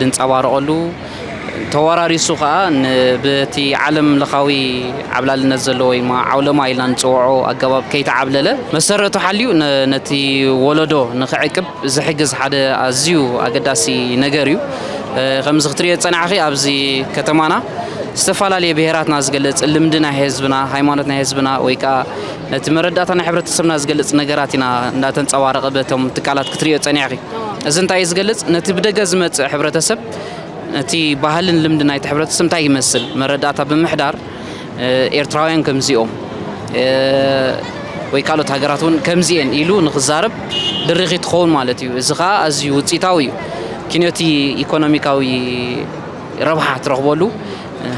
ድንጸባረቐሉ፣ ተወራሪሱ ከኣ ብቲ ዓለም ለኻዊ ዓብላልነት ዘለዎ ወይ ድማ ዓውለማ ኢልና ንጽውዖ ኣገባብ ከይተዓብለለ መሰረቱ ሓልዩ ነቲ ወለዶ ንኽዕቅብ ዝሕግዝ ሓደ ኣዝዩ ኣገዳሲ ነገር እዩ። ከምዚ ክትርእዮ ዝጸናሕኺ ኣብዚ ከተማና ዝተፈላለየ ብሄራትና ዝገልጽ ልምዲ ናይ ህዝብና፣ ሃይማኖት ናይ ህዝብና ወይ ከኣ ነቲ መረዳእታ ናይ ሕብረተሰብና ዝገልጽ ነገራት ኢና እንዳተንጸባረቐ በቶም ትካላት ክትርእዮ ዝጸኒሕኺ። እዚ እንታይ እዩ ዝገልጽ? ነቲ ብደገ ዝመጽእ ሕብረተሰብ እቲ ባህልን ልምዲ ናይቲ ሕብረተሰብ እንታይ ይመስል መረዳእታ ብምሕዳር ኤርትራውያን ከምዚኦም ወይ ካልኦት ሃገራት እውን ከምዚኤን ኢሉ ንክዛረብ ድሪኺ ትኸውን ማለት እዩ። እዚ ከዓ ኣዝዩ ውፅኢታዊ እዩ። ኪንዮቲ ኢኮኖሚካዊ ረብሓ ትረኽበሉ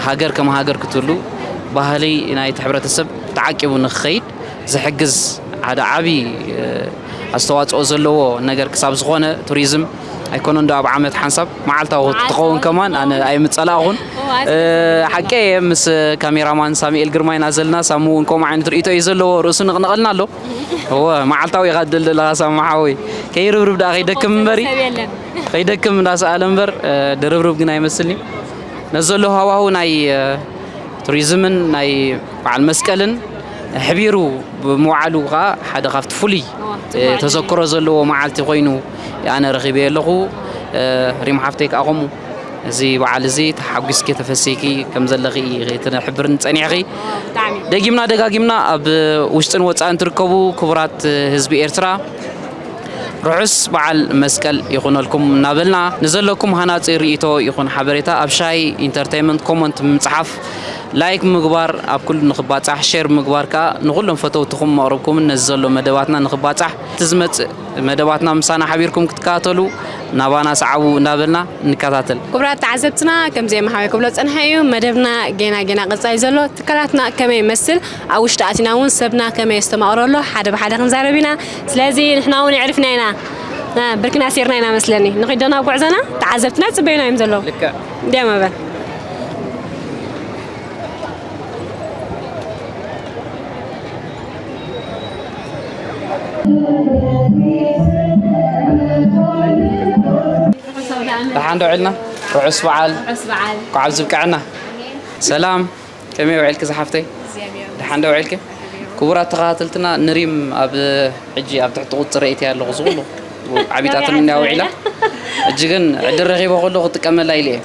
ሃገር ከም ሃገር ክትህሉ ባህሊ ናይቲ ሕብረተሰብ ተዓቂቡ ንክኸይድ ዝሕግዝ ሓደ ዓብዪ ኣስተዋፅኦ ዘለዎ ነገር ክሳብ ዝኾነ ቱሪዝም ኣይኮነን ዶ ኣብ ዓመት ሓንሳብ መዓልታዊ ትኸውን ከማን ኣነ ኣይምፀላእኹን ሓቂ እየ ምስ ካሜራማን ሳሙኤል ግርማ ኢና ዘለና ሳሙ እውን ከምኡ ዓይነት ርእቶ እዩ ዘለዎ ርእሱ ንቕንቐልና ኣሎ እወ መዓልታዊ ኢኻ ትደሊ ዘለኻ ሳሙ ሓወይ ከይርብርብ ድኣ ከይደክም እምበሪ ከይደክም እንዳሰኣለ እምበር ድርብርብ ግን ኣይመስልኒ ነዚ ዘሎ ሃዋሁ ናይ ቱሪዝምን ናይ በዓል መስቀልን ሕቢሩ ብምውዓሉ ከዓ ሓደ ካብቲ ፍሉይ ተዘክሮ ዘለዎ መዓልቲ ኮይኑ ኣነ ረኺበ ኣለኹ ሪም ሓፍተይ ከዓ ከምኡ እዚ በዓል እዚ ተሓጒስኪ ተፈሲኪ ከም ዘለኺ ትሕብርኒ ፀኒዕኺ ደጊምና ደጋጊምና ኣብ ውሽጥን ወፃእን ትርከቡ ክቡራት ህዝቢ ኤርትራ ርሑስ በዓል መስቀል ይኹነልኩም እናበልና ንዘለኩም ሃናፂ ርእቶ ይኹን ሓበሬታ ኣብ ሻይ ኢንተርቴንመንት ኮመንት ምፅሓፍ ላይክ ምግባር ኣብ ኩሉ ንክባጻሕ ሼር ብምግባር ከኣ ንኩሎም ፈተውትኹም መቅርብኩምን ነዚ ዘሎ መደባትና ንክባጻሕ እቲ ዝመጽእ መደባትና ምሳና ሓቢርኩም ክትከታተሉ ናባና ሰዓቡ እንዳበልና ንከታተል። ክቡራት ተዓዘብትና ከምዚ የማሓባይ ክብሎ ዝጸንሐ እዩ መደብና ጌና ጌና ቀጻሊ ዘሎ ትካላትና ከመይ ይመስል ኣብ ውሽጢ ኣቲና ውን ሰብና ከመይ የስተማቅሮ ኣሎ ሓደ ብሓደ ክንዛረብ ኢና ስለዚ ንሕና ውን የዕሪፍና ኢና ብርክና ኣሲርና ኢና መስለኒ ንኺድ ዶ ናብ ጉዕዞና ተዓዘብትና ይጽበዩና እዮም ዘለዉ። እንዲያ መበል ደሓን ዶ ዕልና ርዑስ በዓል እንኳዕ ዝብቀዐና ሰላም ከመይ ውዒልኪ ዝሓፍተይ ደሓን ዶ ውዒልኪ ክቡራት ተኸታተልትና ንሪም ኣብ ሕጂ ኣብ ትሕቲ ቁፅሪ እትያ ኣለኹ ዝኹሉ ዓቢጣትን እንዳ ውዒላ ሕጂ ግን ዕድል ረኺበ ከሎ ክጥቀመላ ኢለ እየ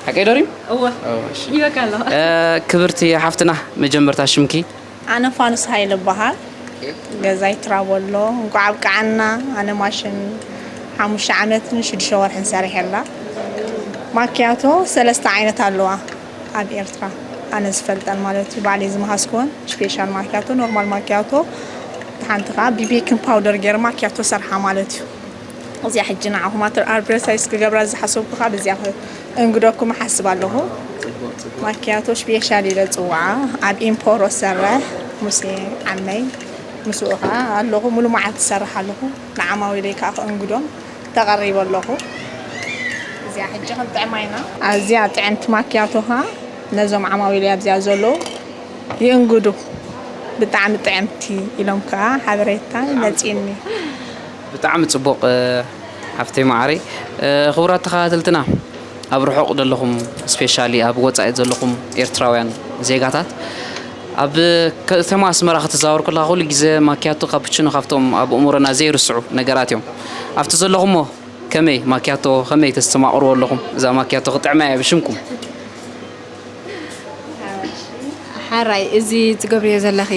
ሓቀይ ዶ ሪም ክብርቲ ሓፍትና መጀመርታ ሽምኪ ኣነ ፋኑስ ሃይለ እባሃል ገዛይ ትራቦሎ እንኳዕ ኣብቀዓና ኣነ ማሽን ሓሙሽተ ዓመትን ሽዱሽተ ወርሕን ሰሪሐላ ማክያቶ ሰለስተ ዓይነት ኣለዋ ኣብ ኤርትራ ኣነ ዝፈልጠን ማለት እዩ ባዕለይ ዝመሃዝክወን ስፔሻል ማክያቶ ኖርማል ማክያቶ ሓንቲ ከዓ ቢቤክን ፓውደር ገይረ ማክያቶ ሰርሓ ማለት እዩ እዚኣ ሕጂ ንዓኹም ኣትር ኣርብረሳይስ ክገብራ ዝሓሰብኩ ካብ እዚኣ እንግደኩም ሓስብ ኣለኹ ማኪያቶ ሽፔሻል ኢለ ፅዋዓ ኣብ ኢምፖሮ ሰረ ሙሴ ዓመይ ምስኡ ከዓ ኣለኹ ሙሉ መዓልቲ ዝሰርሕ ኣለኹ ንዓማዊለይ ከዓ ክእንግዶም ተቐሪበ ኣለኹ እዚኣ ሕጂ ክንጥዕማ ኢና ኣዝያ ጥዕምቲ ማኪያቶ ከዓ ነዞም ዓማዊለይ ኣብዚኣ ዘለዉ ይእንግዱ ብጣዕሚ ጥዕምቲ ኢሎም ከዓ ሓበሬታ መፂኒ ብጣዕሚ ጽቡቅ ሓፍተይ ማዓረይ። ክቡራት ተኻታተልትና ኣብ ርሑቅ ደለኹም ስፔሻሊ ኣብ ወጻኢ ዘለኹም ኤርትራውያን ዜጋታት ኣብ ከተማ ኣስመራ ክትዛወር ከለኻ ኩሉ ግዜ ማክያቶ ካፕቺኖ ካብቶም ኣብ እእሙሮና ዘይርስዑ ነገራት እዮም። ኣብቲ ዘለኹሞ ከመይ ማክያቶ ከመይ ተስተማቅርዎ ኣለኹም እዛ ማክያቶ ክጥዕመያ እየ ብሽምኩም። ሐራይ እዚ ትገብርዮ ዘለኺ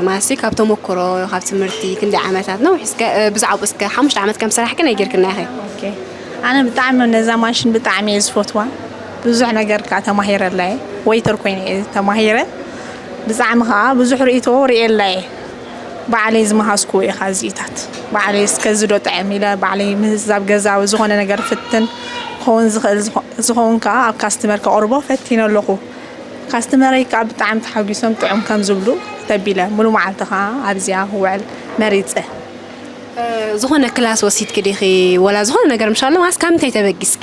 ማለትሲ ካብ ተሞክሮ ካብ ትምህርቲ ክንደይ ዓመታት ነዊሕ እስከ ብዛዕባኡ እስከ ሓሙሽተ ዓመት ከም ስራሕኪ ናይ ጌርክና ኢኺ ኦኬ ኣነ ብጣዕሚ ነዛ ማሽን ብጣዕሚ እየ ዝፈትዋ ብዙሕ ነገር ከዓ ተማሂረላ እየ ወይተር ኮይነ እየ ተማሂረ ብጣዕሚ ከዓ ብዙሕ ርእይቶ ርእየላ እየ ባዕለይ ዝመሃዝኩዎ ኢኻ እዚኢታት ባዕለይ እስከ እዚ ዶ ጥዕም ኢለ ባዕለይ ምህዝ ኣብ ገዛ ወይ ዝኾነ ነገር ፍትን ክኸውን ዝኽእል ዝኸውን ከኣ ኣብ ካስትመር ከቕርቦ ፈቲነ ኣለኹ ካስትመረይ ከኣ ብጣዕሚ ተሓጒሶም ጥዑም ከም ዝብሉ ተቢለ ሙሉ መዓልቲ ከኣ ኣብዚኣ ክውዕል መሪጸ። ዝኾነ ክላስ ወሲድኪ ዲኺ ወላ ዝኾነ ነገር ምሻሎ ዋላስ ካብ ምንታይ ተበጊስኪ?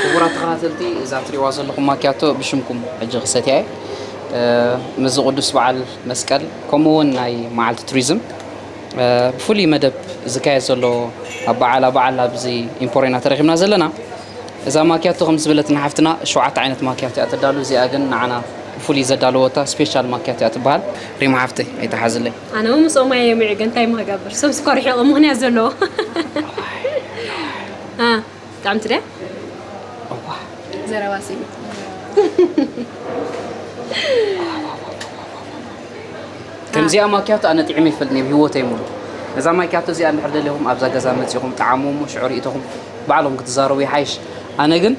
ክቡራት ተኸታተልቲ እዛ ትሪእዋ ዘለኹም ማክያቶ ብሽምኩም ሕጂ ክሰትያ እየ ምስዚ ቅዱስ በዓል መስቀል ከምኡ እውን ናይ መዓልቲ ቱሪዝም ብፍሉይ መደብ ዝካየድ ዘሎ ኣብ በዓል ኣብ በዓል ኣብዚ ኢምፖርዮ ኢና ተረኪብና ዘለና እዛ ማክያቶ ከም ዝበለትና ሓፍትና ሸውዓተ ዓይነት ማክያቶ እያ ተዳሉ እዚኣ ግን ንዓና ብፍሉይ ዘዳለወታ ስፔሻል ማክያቶ እያ ትበሃል ሪማ ሓፍተይ ኣይተሓዝለይ ኣነ እውን ምስኦም እየ የምዒ ግን እንታይ ምክገብር ሰብ ስኳር ይሕቕ ምክንያት ዘለዎ ጥዕምቲ ድያ እዋእ ዘረባ ከምዚኣ ማኪያቶ ኣነ ጥዒመ ይፈልጥ ኣብ ሂወተይ ሙሉ እዛ ማኪያቶ እዚኣ እንድሕር ደለኹም ኣብዛ ገዛ መፂኹም ጣዓሙ እሞ ሽዑ ርእቶኹም ባዕሎም ክትዛረቡ ይሓይሽ ኣነ ግን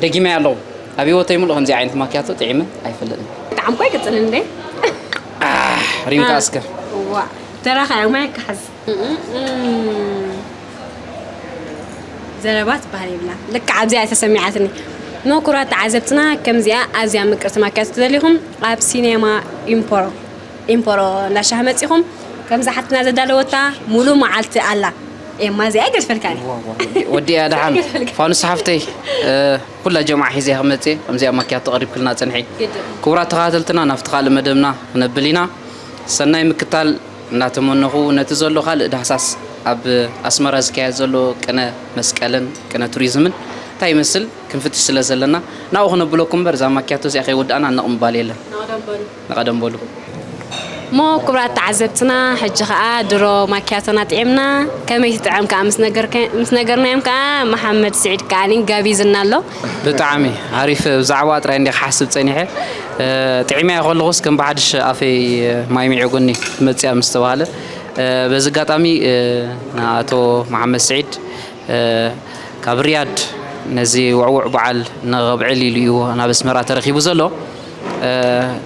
ደጊመ ኣለኹ ኣብ ሂወተይ ሙሉ ከምዚ ዓይነት ማኪያቶ ጥዒመ ኣይፈልጥን ጣዕምኳ ይቅፅል እንደ ሪምካ እስከ ተራኻ ማይ ክሓዝ ዘረባ ትበሃል የብላን ልክዕ ኣብዚኣ እያ ተሰሚዓትኒ ምኩራት ተዓዘብትና ከምዚኣ ኣዝያ ምቅርቲ ማኪያቶ ትደልዩኹም ኣብ ሲኔማ ኢምፖሮ ኢምፖሮ እንዳሻህ መፂኹም ከምዛ ሓትና ዘዳለወታ ሙሉ መዓልቲ ኣላ ኤማ እዚኣ ይገድፈልካ ወዲኣ ደሓን ፋኑስ ሓፍተይ ኩላ ጀምዓ ሒዘ ክመፅእ ከምዚኣ ማኪያቶ ቀሪብክልና ፅንሒ ክቡራት ተኸታተልትና ናብቲ ካልእ መደብና ክነብል ኢና ሰናይ ምክታል እናተመነኹ ነቲ ዘሎ ካልእ ዳህሳስ ኣብ ኣስመራ ዝካየድ ዘሎ ቅነ መስቀልን ቅነ ቱሪዝምን እንታይ ይመስል ክንፍትሽ ስለ ዘለና ናብኡ ክነብለኩም እምበር እዛ ማክያቶ እዚኣ ከይወዳእና ነቕ ምባል የለን ንቐደም በሉ። እሞ ክቡራት ተዓዘብትና ሕጂ ከኣ ድሮ ማክያቶና ጥዒምና ከመይ ትጥዕም ከኣ ምስ ነገርናዮም ከኣ መሓመድ ስዒድ ከኣ ጋቢዝና ኣሎ። ብጣዕሚ ኣሪፍ ብዛዕባ ጥራይ እንዲየ ክሓስብ ጸኒሐ ጥዒመያ ከለኹስ ከም ብሓድሽ ኣፈይ ማይ ሚዒጉኒ መጽያ ምስ ተባህለ በዚ ኣጋጣሚ ንኣቶ መሓመድ ስዒድ ካብ ሪያድ ነዚ ውዕውዕ በዓል ንኸብዕል ኢሉ እዩ ናብ ኣስመራ ተረኺቡ ዘሎ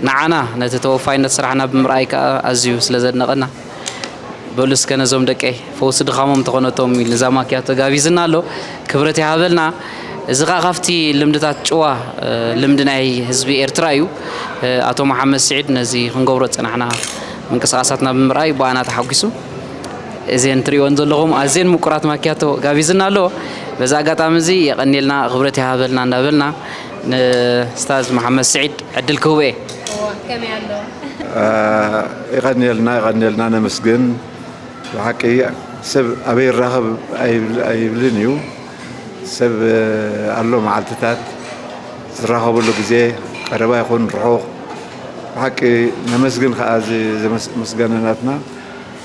ንዓና ነቲ ተወፋይነት ስራሕና ብምርኣይ ከኣ ኣዝዩ ስለ ዘድነቐና በሉ እስከ ነዞም ደቀይ ፈውሲ ድኻሞም ተኾነቶም ኢሉ እዛ ማኪያቶ ጋቢዝና ኣሎ ክብረት ይሃበልና እዚ ከዓ ካብቲ ልምድታት ጭዋ ልምዲ ናይ ህዝቢ ኤርትራ እዩ ኣቶ መሓመድ ስዒድ ነዚ ክንገብሮ ዝፀናሕና ምንቅስቃሳትና ብምርኣይ ብኣና ተሓጒሱ እዘን ትሪእወን ዘለኹም ኣዝየን ምቁራት ማኪያቶ ጋቢዝና ኣሎ በዚ ኣጋጣሚ እዚ የቀኒልና ክብረት ይሃበልና እንዳበልና ንስታዝ መሓመድ ስዒድ ዕድል ክህቦ እየ የቐንየልና የቐንየልና ነመስግን ብሓቂ ሰብ ኣበይ ይራኸብ ኣይብልን እዩ ሰብ ኣሎ መዓልትታት ዝራኸብሉ ግዜ ቀረባ ይኹን ርሑቕ ብሓቂ ነመስግን ከዓ እዚ ምስጋና ናትና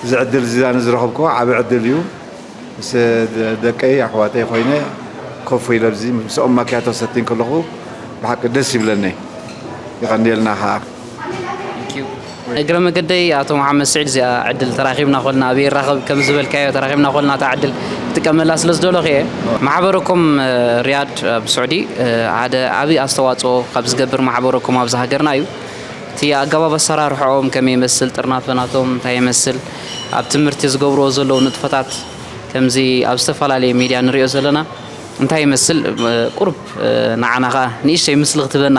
እዚ ዕድል እዚ ኣነ ዝረኸብኩዎ ዓብ ዕድል እዩ ምስ ደቀይ ኣሕዋተይ ኮይነ ኮፍ ኢለ ኣብዚ ምስኦም ማኪያቶ ሰቲ ከለኹ ብሓቂ ደስ ይብለኒ ይቐንየልና ከዓ እግረ መገደይ ኣቶ መሓመድ ስዒድ እዚኣ ዕድል ተራኺብና ኮልና ኣብየ ይራኸብ ከም ዝበልካዮ ተራኺብና ኮልና እታ ዕድል ክጥቀመላ ስለ ዝደለኹ እየ። ማሕበረ ኮም ሪያድ ኣብ ስዑዲ ሓደ ዓቢ ኣስተዋጽኦ ካብ ዝገብር ማሕበረ ኮም ኣብዚ ሃገርና እዩ። እቲ ኣገባብ ኣሰራርሕኦም ከመይ ይመስል ጥርናፈ ናቶም እንታይ ይመስል ኣብ ትምህርቲ ዝገብርዎ ዘለዉ ንጥፈታት ከምዚ ኣብ ዝተፈላለየ ሚድያ ንሪኦ ዘለና እንታይ ይመስል ቁሩብ ንዓና ከኣ ንእሽተይ ምስሊ ክትህበና።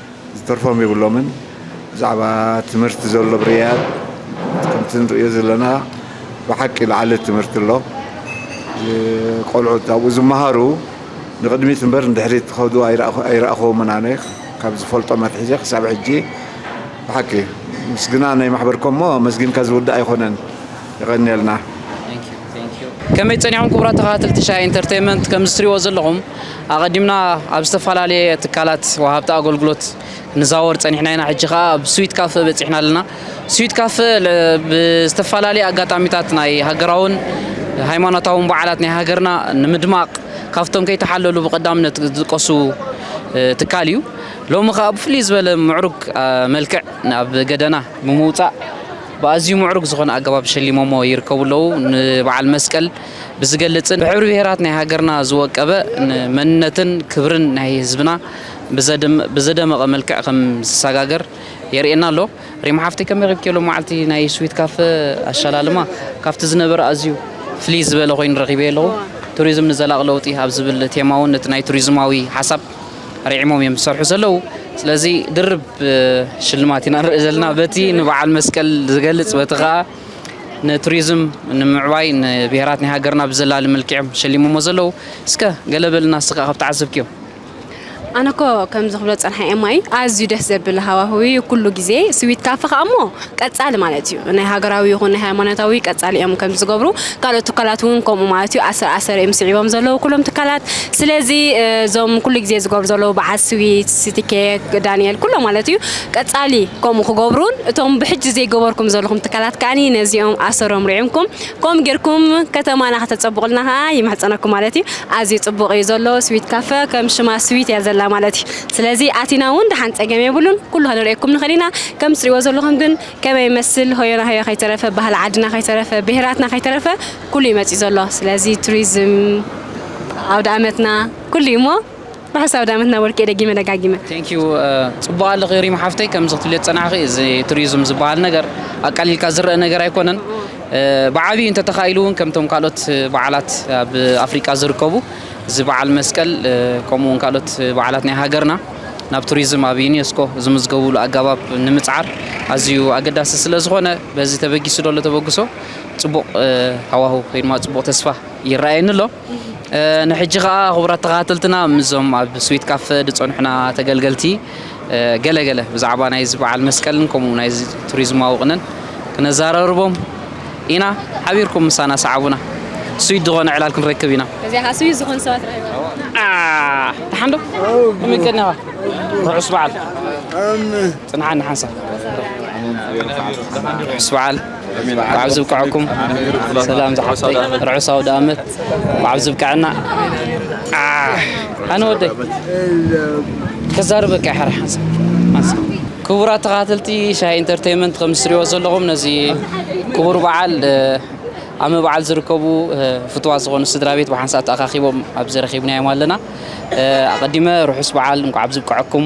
ዝተርፎም የብሎምን ብዛዕባ ትምህርቲ ዘሎ ብርያት ከምቲ ንርእዮ ዘለና ብሓቂ ልዓሊ ትምህርቲ ኣሎ ቆልዑት ኣብኡ ዝመሃሩ ንቕድሚት እምበር ንድሕሪት ክኸዱ ኣይረኣኹዎምን ኣነ ካብ ዝፈልጦም ኣትሒዘ ክሳብ ሕጂ ብሓቂ ምስግና ናይ ማሕበርኮሞ ኣመስጊንካ ዝውዳእ ኣይኮነን የቐንየልና ከመይ ጸኒሖም ክቡራት ተኸታተልቲ ሻሂ ኢንተርቴይመንት ከምዚ ትሪእዎ ዘለኹም ኣቐዲምና ኣብ ዝተፈላለየ ትካላት ወሃብቲ ኣገልግሎት ንዛወር ጸኒሕና ኢና ሕጂ ከኣ ኣብ ስዊት ካፈ በጺሕና ኣለና ስዊት ካፈ ብዝተፈላለየ ኣጋጣሚታት ናይ ሃገራውን ሃይማኖታውን በዓላት ናይ ሃገርና ንምድማቕ ካብቶም ከይተሓለሉ ብቐዳምነት ዝጥቀሱ ትካል እዩ ሎሚ ከኣ ብፍልይ ዝበለ ምዕሩግ መልክዕ ናብ ገደና ብምውጻእ ብኣዝዩ ምዕሩግ ዝኾነ ኣገባብ ሸሊሞሞ ይርከቡ ኣለዉ። ንበዓል መስቀል ብዝገልጽን ብሕብሪ ብሄራት ናይ ሃገርና ዝወቀበ ን መንነትን ክብርን ናይ ህዝብና ብዘደመቐ መልክዕ ከም ዝሰጋገር የርእየና ኣሎ። ሪም ሓፍተይ ከመይ ረኪብኪዮ ሎማዓልቲ ናይ ስዊት ካፈ ኣሸላልማ ካብቲ ዝነበረ ኣዝዩ ፍልይ ዝበለ ኮይኑ ረኺበዮ ኣለኹ። ቱሪዝም ንዘላቒ ለውጢ ኣብ ዝብል ቴማ'ውን እቲ ናይ ቱሪዝማዊ ሓሳብ። ኣርዒሞም እዮም ዝሰርሑ ዘለዉ። ስለዚ ድርብ ሽልማት ኢና ንርኢ ዘለና በቲ ንበዓል መስቀል ዝገልጽ በቲ ከዓ ንቱሪዝም ንምዕባይ ንብሄራት ናይ ሃገርና ብዘላሊ መልክዕም ሸሊሞሞ ዘለዉ እስከ ገለ በልና እስኻ ካብ ተዓዘብክዮም ኣነ እኮ ከምዚ ክብሎ ዝጸንሐ ኤማይ ኣዝዩ ደስ ዘብል ሃዋህው እዩ ኩሉ ግዜ ስዊት ካፈ ከኣ እሞ ቀጻሊ ማለት እዩ ናይ ሃገራዊ ይኹን ናይ ሃይማኖታዊ ቀጻሊ እዮም ከምዚ ዝገብሩ ካልኦት ትካላት እውን ከምኡ ማለት እዩ ኣሰር ኣሰር እዮም ስዒቦም ዘለዉ ኩሎም ትካላት ስለዚ እዞም ኩሉ ግዜ ዝገብሩ ዘለዉ በዓል ስዊት ሲቲኬክ ዳንኤል ኩሎም ማለት እዩ ቀጻሊ ከምኡ ክገብሩን እቶም ብሕጂ ዘይገበርኩም ዘለኹም ትካላት ከዓኒ ነዚኦም ኣሰሮም ርዒምኩም ከምኡ ጌርኩም ከተማና ከተጸብቑልና ከኣ ይምሕጸነኩም ማለት እዩ ኣዝዩ ጽቡቕ እዩ ዘሎ ስዊት ካፈ ከም ሽማ ስዊት እያ ዘላ ማለት እዩ ስለዚ ኣቲና ውን ደሓን ጸገም የብሉን ኩሉ ከነርእየኩም ንኽእል ኢና ከም ትርእይዎ ዘለኹም ግን ከመይ ይመስል ሆዮና ሆዮ ከይተረፈ ባህሊ ዓድና ከይተረፈ ብሄራትና ከይተረፈ ኩሉ እዩ መጺኡ ዘሎ ስለዚ ቱሪዝም ኣውደኣመትና ኩሉ እዩ እሞ ርሑስ ኣውደኣመትና ወርቅየ ደጊመ ደጋጊመ። Thank you ጽቡቅ ኣለኺ ሪም ሓፍተይ ከምዚ ክትብልዮ ዝጸናሕኺ እዚ ቱሪዝም ዝብሃል ነገር ኣቃሊልካ ዝረኣ ነገር ኣይኮነን ብዓቢኡ እንተተኻኢሉ ውን ከምቶም ካልኦት በዓላት ኣብ ኣፍሪቃ ዝርከቡ እዚ በዓል መስቀል ከምኡ እውን ካልኦት በዓላት ናይ ሃገርና ናብ ቱሪዝም ኣብ ዩኔስኮ ዝምዝገቡሉ ኣገባብ ንምፅዓር ኣዝዩ ኣገዳሲ ስለ ዝኾነ በዚ ተበጊሱ ደሎ ተበግሶ ፅቡቕ ሃዋህው ወይ ድማ ፅቡቕ ተስፋ ይረኣየኒ ኣሎ ንሕጂ ከዓ ክቡራት ተኸታተልትና ምስዞም ኣብ ስዊት ካፈ ዝፀንሑና ተገልገልቲ ገለ ገለ ብዛዕባ ናይዚ በዓል መስቀልን ከምኡ ናይዚ ቱሪዝማዊ ቅነን ክነዛረርቦም ኢና። ሓቢርኩም ምሳና ሰዓቡና። ስዊት ዝኾነ ዕላል ክንረክብ ኢና። እዚኣ ስዊት ዝኾኑ ሰባት ረኺባ። ደሓን ዶ? ከመይ ቀኒኻ? ርሑስ በዓል። ጽንሓኒ ሓንሳብ። ርሑስ በዓል። ብዓብ ዝብቅዐኩም ሰላም ዝሓፍተይ ርሑስ ኣውደኣመት ብዓብ ዝብቅዐና ኣነ ወደይ ከዛርበካ ይሓር ክቡራት ተኸታተልቲ ሻሂ ኢንተርቴንመንት ከም ዝትሪእዎ ዘለኹም ነዚ ክቡር በዓል ኣብ ምብዓል ዝርከቡ ፍትዋት ዝኾኑ ስድራ ቤት ብሓንሳእ ተኣኻኺቦም ኣብዚ ረኺብናዮም ኣለና ኣቐዲመ ርሑስ በዓል እንኳዕ ብዝብቅዐኩም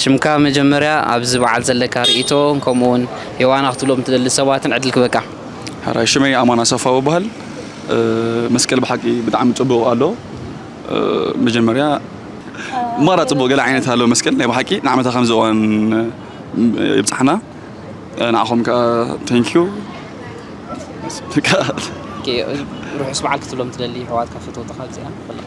ሽምካ መጀመርያ ኣብዚ በዓል ዘለካ ርእይቶ ከምኡ ውን የዋና ክትብሎም ትደሊ ሰባትን ዕድል ክበካ። ሕራይ ሽመይ ኣማን ኣሰፋው እባሀል መስቀል ብሓቂ ብጣዕሚ ጽቡቅ ኣሎ መጀመርያ ማራ ጽቡቅ ገለ ዓይነት ኣሎ መስቀል ናይ ብሓቂ ንዓመታ ከምዚ እዋን የብጽሓና ንዓኹም ከኣ ተንኪዩ በቃ። ኦኬ ርሑስ በዓል ክትብሎም ትደሊ የሕዋትካ ፈተውትኻ እዚኣ ኩልኻ።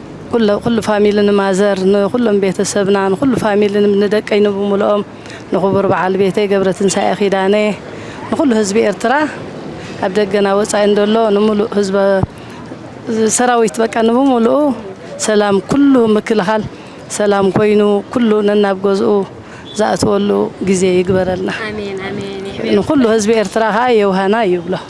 ኩለ ኩሉ ፋሚሊ ንማዘር ንኩሎም ቤተሰብና ንኩሉ ፋሚሊ ንደቀይ ንብሙሉኦም ንኩቡር በዓል ቤተይ ገብረትንሳኤ ኪዳነ ንኩሉ ህዝቢ ኤርትራ ኣብ ደገን ኣብ ወጻኢን ደሎ ንሙሉእ ህዝበ ሰራዊት በቃ ንብሙሉኡ ሰላም ኩሉ ምክልኻል ሰላም ኮይኑ ኩሉ ነናብ ገዝኡ ዝኣትወሉ ግዜ ይግበረልና ኣሜን ኣሜን ንኩሉ ህዝቢ ኤርትራ ከኣ የውሃና ይብሎ።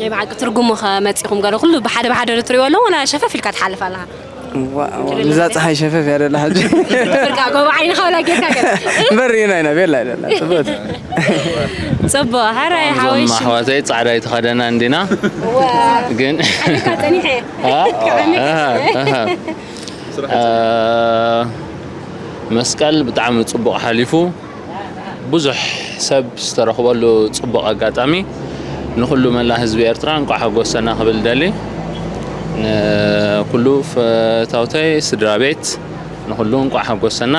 ናይ ብሓቂ ትርጉሙ ከ መጺኹም ገለ ኩሉ ብሓደ ብሓደ ዶ ትሪእዎ ኣሎ ወላ ሸፈፍ ኢልካ ትሓልፍ ኣለኻ? እዛ ፀሓይ ሸፈፍ እያ ደላ ሕጂ ፍርቃ ጎቦ ዓይንኻ ወላ ጌርካ ገለ እምበር ኢና ኢና ቤላ እያ ደላ ፅብቕቲ ጽቡቕ ሕራይ እዞም ሓወይ ሽም ኣሕዋተይ ጻዕዳ ኣይተኸደና እንዲና ግን ሓደካ ጸኒሐ መስቀል ብጣዕሚ ጽቡቕ ሓሊፉ ብዙሕ ሰብ ዝተረኽበሉ ጽቡቕ ኣጋጣሚ ንኹሉ መላ ህዝቢ ኤርትራ እንቋዕ ሓጎሰና ክብል ደሊ ንኩሉ ፈታውተይ ስድራ ቤት ንኹሉ እንቋዕ ሓጎሰና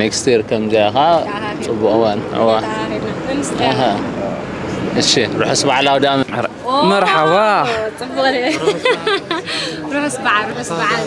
ኔክስት ይር ከምዚኣ ኸዓ ጽቡቕ እዋን እዋ እሺ ርሑስ በዓል ኣውዳኣመት መርሓባ ርሑስ በዓል ርሑስ በዓል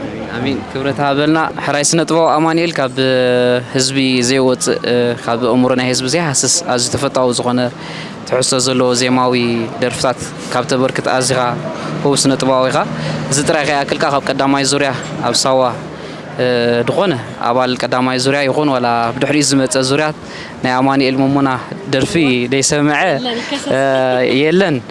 ኣሜን ኣሜን ክብረት ሃበልና ሕራይ ስነ ጥበብ ኣማንኤል ካብ ህዝቢ ዘይወፅእ ካብ ኣእምሮ ናይ ህዝቢ ዘይሃስስ ኣዝዩ ተፈታዊ ዝኾነ ትሕዝቶ ዘለዎ ዜማዊ ደርፍታት ካብ ተበርክት ኣዚኻ ህቡብ ስነ ጥበባዊ ኢኻ እዚ ጥራይ ከይኣክልካ ካብ ቀዳማይ ዙርያ ኣብ ሳዋ ዝኾነ ኣባል ቀዳማይ ዙርያ ይኹን ዋላ ብድሕሪኡ ዝመፀ ዙርያ ናይ ኣማኒኤል መሞና ደርፊ ደይሰምዐ የለን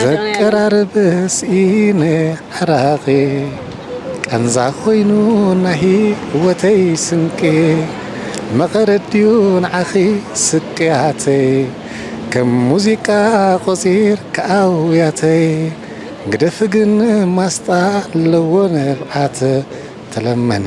ዘቀራርብ ስኢነ ዕራቂ ቃንዛ ኮይኑ ናይ ሂወተይ ስንቂ መቀረት ድዩ ንዓኺ ስቅያተይ ከም ሙዚቃ ቆጺርኪ ኣውያተይ ግደፊ ግን ማስጣ ኣለዎ ንብዓት ተለመኒ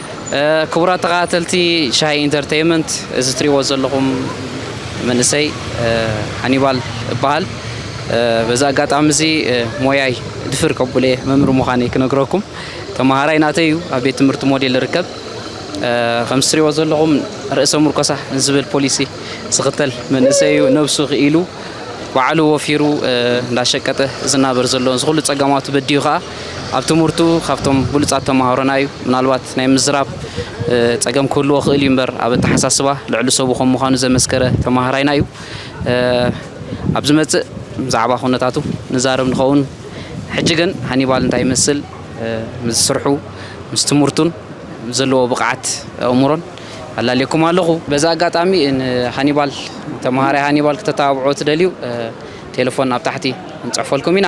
ክቡራት ተኸታተልቲ ሻሂ ኢንተርተይመንት እዚ ትሪእዎ ዘለኹም መንእሰይ ሃኒባል እበሃል። በዚ ኣጋጣሚ እዚ ሞያይ ድፍር ከብሎ እየ መምህር ምዃነይ ክነግረኩም። ተምሃራይ ናተይ እዩ ኣብ ቤት ትምህርቲ ሞዴል ይርከብ። ከምዚ ትሪእዎ ዘለኹም ርእሰ ምርኮሳ ዝብል ፖሊሲ ዝኽተል መንእሰይ እዩ። ነብሱ ክኢሉ ባዕሉ ወፊሩ እንዳሸቀጠ ዝናበር ዘሎ ዝኹሉ ፀገማቱ በዲዩ ከዓ ኣብ ትምህርቱ ካብቶም ብሉፃት ተምሃሮና እዩ። ምናልባት ናይ ምዝራብ ፀገም ክህልዎ ክእል እዩ እምበር ኣብ ኣተሓሳስባ ልዕሊ ሰቡ ከም ምዃኑ ዘመስከረ ተምሃራይና እዩ። ኣብ ዝመፅእ ብዛዕባ ኩነታቱ ንዛረብ ንኸውን። ሕጂ ግን ሃኒባል እንታይ ይመስል ምስ ስርሑ ምስ ትምህርቱን ዘለዎ ብቕዓት ኣእምሮን ኣላልየኩም ኣለኹ። በዚ ኣጋጣሚ ንሃኒባል ተምሃራይ ሃኒባል ክተተባብዑ ትደልዩ ቴለፎን ኣብ ታሕቲ ክንፅሕፈልኩም ኢና።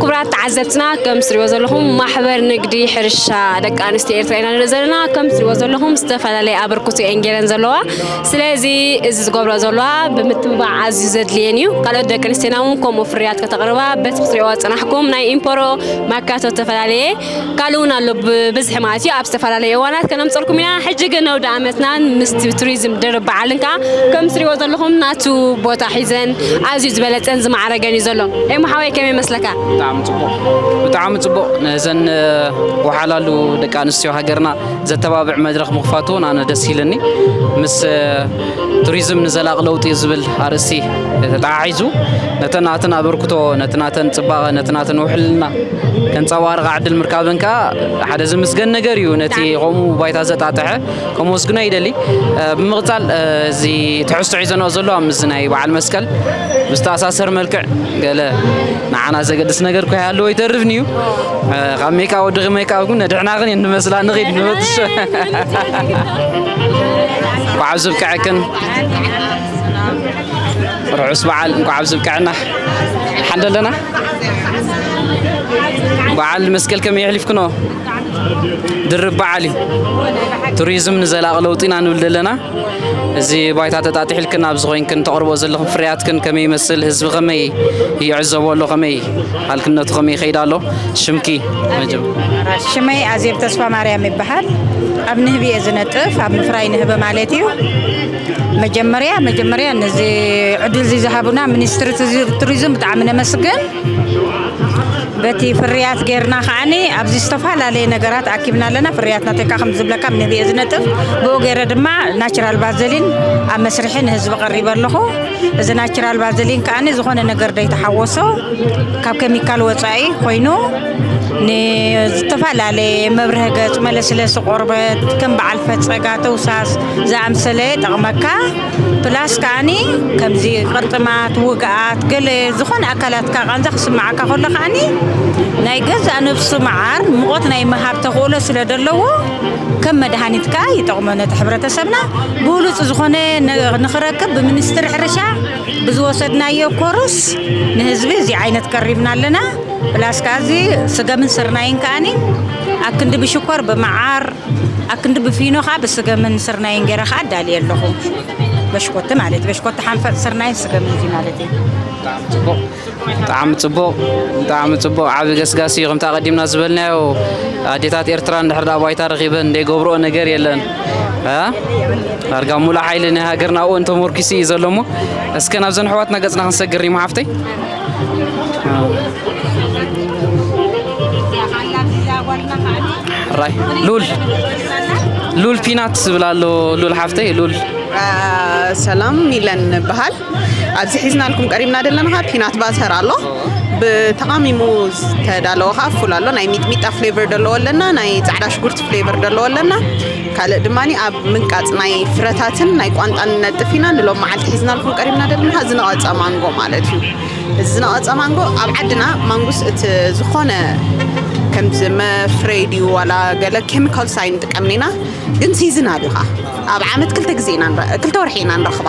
ክቡራት ተዓዘብትና ከም ትሪእዎ ዘለኹም ማሕበር ንግዲ ሕርሻ ደቂ ኣንስትዮ ኤርትራ ኢና ንርኢ ዘለና ከም ትሪእዎ ዘለኹም ዝተፈላለየ ኣበርክቶ እየን ገይረን ዘለዋ ስለዚ እዚ ዝገብሮ ዘለዋ ብምትብባዕ ኣዝዩ ዘድልየን እዩ ካልኦት ደቂ ኣንስትዮና እውን ከምኡ ፍርያት ከተቕርባ በቲ ክትሪእዎ ዝፀናሕኩም ናይ ኢምፖሮ ማካቶ ዝተፈላለየ ካልእ እውን ኣሎ ብብዝሒ ማለት እዩ ኣብ ዝተፈላለዩ እዋናት ከነምፀልኩም ኢና ሕጂ ግን ኣውደ ኣመትናን ምስ ቱሪዝም ድርብ በዓልን ከዓ ከምዚ ትሪእዎ ዘለኹም ናቱ ቦታ ሒዘን ኣዝዩ ዝበለፀን ዝማዕረገን እዩ ዘሎ ኤሙ ሓወይ ከመይ ይመስለካ ብጣዕሚ ፅቡቕ ብጣዕሚ ፅቡቕ ነዘን ወሓላሉ ደቂ ኣንስትዮ ሃገርና ዘተባብዕ መድረኽ ምኽፋቱ እውን ኣነ ደስ ኢልኒ ምስ ቱሪዝም ንዘላቕ ለውጢ ዝብል ኣርእስቲ ተተሓሒዙ ነተን ናተን ኣበርክቶ ነቲ ናተን ፅባቐ ነቲ ናተን ውሕልና ከንጸባርቓ ዕድል ምርካበን ከኣ ሓደ ዝምስገን ነገር እዩ ነቲ ከምኡ ባይታ ዘጣጥሐ ከመስግኖ ይደሊ ብምቕጻል እዚ ትሕዝቶ ሒዘንኦ ዘሎ ኣብ ምስዚ ናይ በዓል መስቀል ብዝተኣሳሰር መልክዕ ገለ ንዓና ዘገድስ ነገር ኮይ ኣለዎ ይተርፍኒ እዩ ካብ ሜካ ወድኺ ሜካ ግን ነድሕናኽን እየ ንመስላ ንኺድ ንበትሽ እንኳዕ ኣብዚ ብቅዐክን ርሑስ በዓል እንኳዕ ኣብዚ ብቅዐና ሓንደ ኣለና በዓል መስቀል ከመይ የሕሊፍክኖ? ድርብ በዓል እዩ። ቱሪዝም ንዘላቒ ለውጢ ኢና ንብል ዘለና። እዚ ባይታ ተጣጢሕልክን ኣብዚ ኮይንክን ተቕርቦ ዘለኹም ፍርያትክን ከመይ ይመስል? ህዝቢ ከመይ ይዕዘቦ ኣሎ? ከመይ ሃልክነቱ ከመይ ይኸይድ ኣሎ? ሽምኪ ሽመይ ኣዜብ ተስፋ ማርያም ይበሃል። ኣብ ንህቢ እየ ዝነጥፍ፣ ኣብ ምፍራይ ንህቢ ማለት እዩ። መጀመርያ መጀመርያ ነዚ ዕድል እዚ ዝሃቡና ሚኒስትሪ ቱሪዝም ብጣዕሚ ነመስግን በቲ ፍርያት ጌርና ከዓኒ ኣብዚ ዝተፈላለየ ነገራት ኣኪብና ኣለና ፍርያት ናተካ ከም ዝብለካ ንብየ ዝነጥፍ ብኡ ገይረ ድማ ናቹራል ቫዘሊን ኣብ መስርሒ ንህዝቢ ቀሪበ ኣለኹ እዚ ናቹራል ቫዘሊን ከዓኒ ዝኾነ ነገር ዘይተሓወሶ ካብ ኬሚካል ወፃኢ ኮይኑ ንዝተፈላለየ መብርሂ ገፅ መለስለሲ ቆርበት ከም በዓል ፈፀጋ ተውሳስ ዝኣምሰለ ይጠቕመካ ፕላስ ከዓኒ ከምዚ ቅርጥማት ውግኣት ገለ ዝኾነ ኣካላትካ ቃንዛ ክስምዓካ ከሎ ከዓኒ ናይ ገዛእ ነብሱ መዓር ሙቐት ናይ ምሃብ ተኽእሎ ስለ ዘለዎ ከም መድሃኒት ከኣ ይጠቕሞ ነቲ ሕብረተሰብና ብሉፅ ዝኾነ ንኽረክብ ብምኒስትሪ ሕርሻ ብዝወሰድናዮ ኮርስ ንህዝቢ እዚ ዓይነት ቀሪብና ኣለና ፕላስ ከኣ እዚ ስገምን ስርናይን ከዓኒ ኣብ ክንዲ ብሽኮር ብመዓር ኣክንዲ ብፊኖ ከኣ ብስገምን ስርናይን ገይረ ከኣ ኣዳልየ ኣለኹ በሽኮቲ ማለት በሽኮቲ ሓንፈፅ ስርናይን ስገምን እዚ ማለት እዩ ብጣዕሚ ፅቡቕ ብጣዕሚ ፅቡቕ ብጣዕሚ ፅቡቕ ዓብ ገስጋሲ እዩ ከምቲ ኣቐዲምና ዝበልናዮ ኣዴታት ኤርትራ እንድሕር ዳኣ ባይታ ረኺበን ዘይገብርኦ ነገር የለን ዳርጋ ሙሉእ ሓይሊ ናይ ሃገርና ኣብኡ ተመርኪሱ እዩ ዘሎ እሞ እስከ ናብዘን ኣሕዋትና ገፅና ክንሰግር ሪማ ሓፍተይ ራይ ሉል ሉል ፒናት ዝብል ኣሎ ሉል ሓፍተይ ሉል ሰላም ሚለን በሃል ኣብዚ ሒዝናልኩም ቀሪብና ዘለና ካ ፒናት ባተር ኣሎ ብተቃሚሙ ዝተዳለወ ከዓ ፉል ኣሎ ናይ ሚጥሚጣ ፍሌቨር ደለዎ ኣለና ናይ ፃዕዳ ሽጉርቲ ፍሌቨር ደለዎ ኣለና ካልእ ድማ ኣብ ምንቃጽ ናይ ፍረታትን ናይ ቋንጣን ንነጥፍ ኢና። ንሎም መዓልቲ ሒዝናልኩም ቀሪብና ደለና ዝነቐጸ ማንጎ ማለት እዩ። እዚ ዝነቐጸ ማንጎ ኣብ ዓድና ማንጉስ እቲ ዝኾነ ከምዚ መፍረይ ድዩ ዋላ ገለ ኬሚካልስ ኣይንጥቀምን ኢና። ግን ሲዝናል እዩ ከኣ ኣብ ዓመት ክልተ ግዜ ኢና ክልተ ወርሒ ኢና ንረኽባ።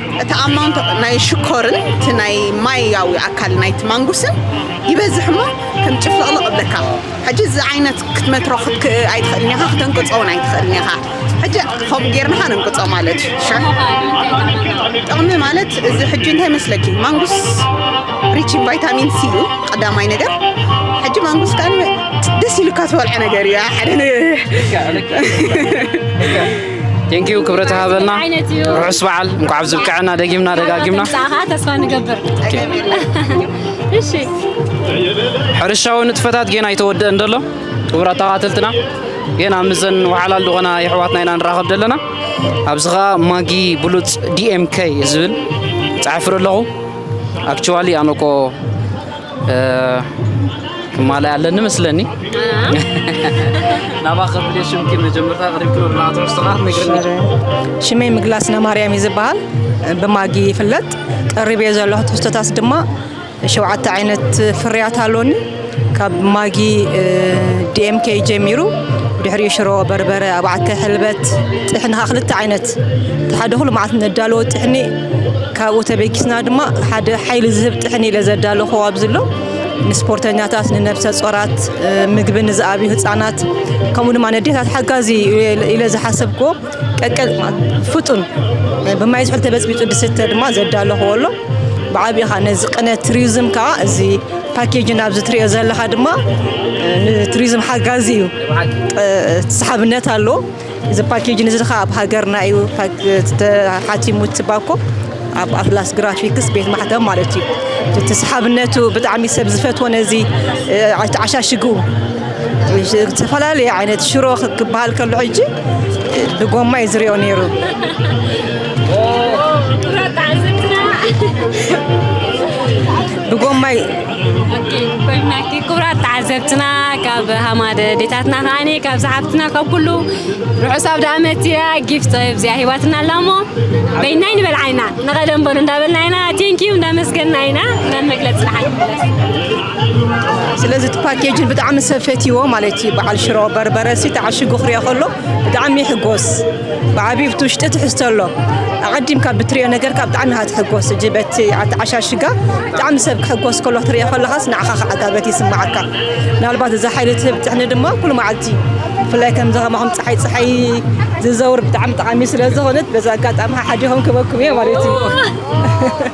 እቲ ኣማውንት ናይ ሽኮርን እቲ ናይ ማያዊ ኣካል ናይቲ ማንጉስን ይበዝሕ እሞ ከም ጭፍልቕልቕ እብለካ ሕጂ እዚ ዓይነት ክትመትሮ ኣይትኽእልን ኢኻ ክተንቅጾ እውን ኣይትኽእልን ኢኻ ሕጂ ከምኡ ጌርናኻ ነንቅጾ ማለት እዩ ሸር ጥቕሚ ማለት እዚ ሕጂ እንታይ መስለኪ ማንጉስ ሪች ቫይታሚን ሲ እዩ ቀዳማይ ነገር ሕጂ ማንጉስ ከ ደስ ኢሉካ ትበልዐ ነገር እዩ ሓደ ቴንኪዩ ክብረት ሃበልና ርሑስ በዓል እንኳዕ ኣብዚ ብቅዐና ደጊምና ደጋጊምና ተስፋ ንገብር ሕርሻዊ ንጥፈታት ጌና ኣይተወደአን ደሎ ክቡር ኣተኻተልትና ጌና ምዘን ወሓላል ዝኾና የሕዋትና ኢና ንራኸብ ዘለና ኣብዚ ከዓ ማጊ ብሉፅ ዲኤምከይ ዝብል ፀሓፍረ ኣለኹ ኣክቹዋሊ ኣነኮ ትማሊ ኣለኒ ምስለኒ ናባ ከብደ ሽምኪ መጀመርታ ቅሪብ ክብር ናትሮስ ጥቃት ነግርኒ ሽመይ ምግላስ ነማርያም እዩ ዝበሃል ብማጊ ይፍለጥ ቀሪብ እየ ዘለኹ ትሕዝቶታት ድማ ሸውዓተ ዓይነት ፍርያት ኣሎኒ ካብ ማጊ ዲኤምኬ ጀሚሩ ድሕሪኡ ሽሮ በርበረ ኣባዕተ ሕልበት ጥሕኒ ከዓ ክልተ ዓይነት እቲ ሓደ ኩሉ መዓልቲ ነዳለዎ ጥሕኒ ካብኡ ተበጊስና ድማ ሓደ ሓይሊ ዝህብ ጥሕኒ ኢለ ዘዳለኹ ኣብዚ ኣሎ ንስፖርተኛታት ንነብሰ ጾራት ምግቢ ንዝኣብዩ ህፃናት ከምኡ ድማ ነዴታት ሓጋዚ ኢለ ዝሓሰብክዎ ቀቀል ፍጡን ብማይ ዝሑል ተበፅቢፁ ድስተ ድማ ዘዳለኽዎ ኣሎ ብዓብኻ ነዚ ቅነ ቱሪዝም ከዓ እዚ ፓኬጅ ናብዚ ትሪኦ ዘለኻ ድማ ንቱሪዝም ሓጋዚ እዩ ተሰሓብነት ኣለዎ እዚ ፓኬጅ ንዚ ከ ኣብ ሃገርና እዩ ተሓቲሙ ትባኮ ኣብ ኣትላስ ግራፊክስ ቤት ማሕተም ማለት እዩ እቲ ሰሓብነቱ ብጣዕሚ ሰብ ዝፈትዎ ነዚ ተዓሻሽጉ ዝተፈላለየ ዓይነት ሽሮ ክበሃል ከሎ ሕጂ ብጎማ እዩ ዝሪኦ ነይሩ ብጎማ ክቡራት ተዓዘብትና ካብ ሃማደ ዴታትና ከዓኒ ካብ ዝሓፍትና ካብ ኩሉ ርሑስ ኣብ ዳኣመት እያ ጊፍት ጥበብ እዚኣ ሂባትና ኣላ እሞ በይናይ ንበል ዓይና ንቐደም በሉ እንዳበልና ኢና ቴንኪዩ እንዳመስገና ኢና ናብ መግለፂ ልሓል ስለዚ እቲ ፓኬጅን ብጣዕሚ ሰብ ፈትይዎ ማለት እዩ በዓል ሽሮ በርበረ ሲ ተዓሽጉ ክሪኦ ከሎ ብጣዕሚ ይሕጎስ ብዓብዩ ኣብቲ ውሽጢ ትሕዝቶ ኣሎ ኣቐዲምካ ብትሪኦ ነገርካ ብጣዕሚ ኢኻ ትሕጎስ ሕጂ በቲ ኣተዓሻሽጋ ብጣዕሚ ሰብ ክሕጎስ ከሎ ክትሪኦ ከለኻስ ንዓኻ ከዓ ኣጋበት ይስምዓካ ምናልባት እዛ ሓይሊ ትህብ ጥሕኒ ድማ ኩሉ መዓልቲ ብፍላይ ከምዚ ከማኹም ፀሓይ ፀሓይ ዝዘውር ብጣዕሚ ጠቓሚ ስለ ዝኾነት በዚ ኣጋጣሚ ሓሓዲኹም ክበኩም እየ ማለት እዩ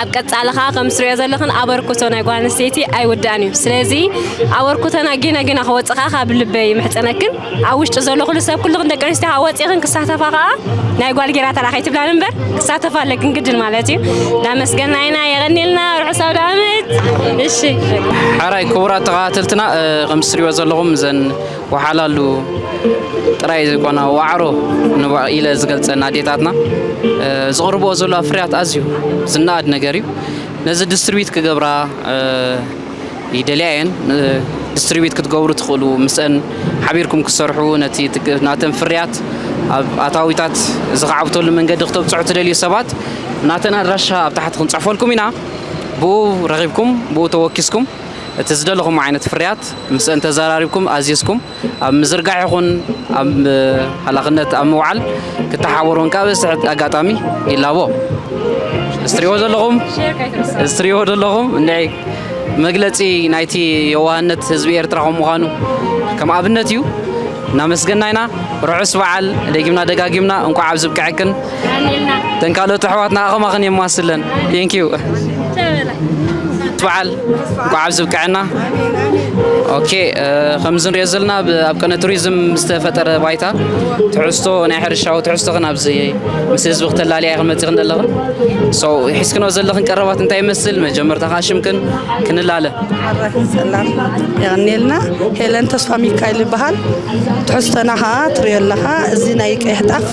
ኣብ ቀጻሊ ከኣ ከም ትሪኦ ዘለኽን ኣበርክቶ ናይ ጓል ኣንስተይቲ ኣይውዳእን እዩ። ስለዚ ኣበርክቶና ጌና ጌና ክወጽእ ከኣ ካብ ልበይ ይምሕጸነክን። ኣብ ውሽጢ ዘሎ ኩሉ ሰብ ኩልኽን ደቂ ኣንስትዮ ከኣ ወጺእኽን ክሳተፋ ከኣ ናይ ጓል ጌራ ተራ ከይትብላኒ እምበር ክሳተፋ ኣለክን ግድን ማለት እዩ። እናመስገና ኢና የቐንየልና ርሑስ ኣውደኣመት። እሺ። ሐራይ ክቡራት ተኸታተልትና እ፣ ከም ትሪኦ ዘለኹም እዘን ወሓላሉ ጥራይ ዘይኮና ዋዕሮ ኢለ ዝገልፀን ኣዴታትና ዝቕርብኦ ዘለዋ ፍርያት ኣዝዩ ዝነኣድ ነገር እዩ ነዚ ዲስትሪቢዩት ክገብራ ይደልያ እየን ዲስትሪቢዩት ክትገብሩ ትኽእሉ ምስአን ሓቢርኩም ክሰርሑ ነቲ ናተን ፍርያት ኣብ ኣታዊታት ዝኸዓብተሉ መንገዲ ክተብፅሑ ትደልዩ ሰባት ናተን ኣድራሻ ኣብ ታሕቲ ክንፅሕፈልኩም ኢና ብኡ ረኺብኩም ብኡ ተወኪስኩም እቲ ዝደለኹሞ ዓይነት ፍርያት ምስእን ተዘራሪብኩም ኣዚዝኩም ኣብ ምዝርጋሕ ይኹን ኣብ ሃላኽነት ኣብ ምውዓል ክተሓበሩን ካብ እስሕት ኣጋጣሚ ይላቦ። እዚ ትሪእዎ ዘለኹም እዚ ትሪእዎ ዘለኹም እንድዒ መግለጺ ናይቲ የዋህነት ህዝቢ ኤርትራ ከም ምዃኑ ከም ኣብነት እዩ። እናመስገና ኢና። ርሑስ በዓል ደጊምና ደጋጊምና እንቋዕ ኣብዚ ብቅዐክን። እተን ካልኦት ኣሕዋትና ኣኸማ ክን የማስለን ቴንኪዩ በዓል በዓል ዝብቅዐና ኦኬ ከምዚ ንሪኦ ዘለና ኣብ ቀነ ቱሪዝም ዝተፈጠረ ባይታ ትሕዝቶ ናይ ሕርሻዊ ትሕዝቶ ክን ኣብዚ ምስ ህዝቢ ክተላለያ ክመፅኽን ዘለኽን ሶ ሒዝክኖ ዘለኽን ቀረባት እንታይ ይመስል መጀመርታ ከዓ ሽምክን ክንላለ ሰላም የቀኒልና ሄለን ተስፋ ሚካኤል ይበሃል ትሕዝቶና ከዓ ትሪኦ ኣለኻ እዚ ናይ ቀይሕ ጣፍ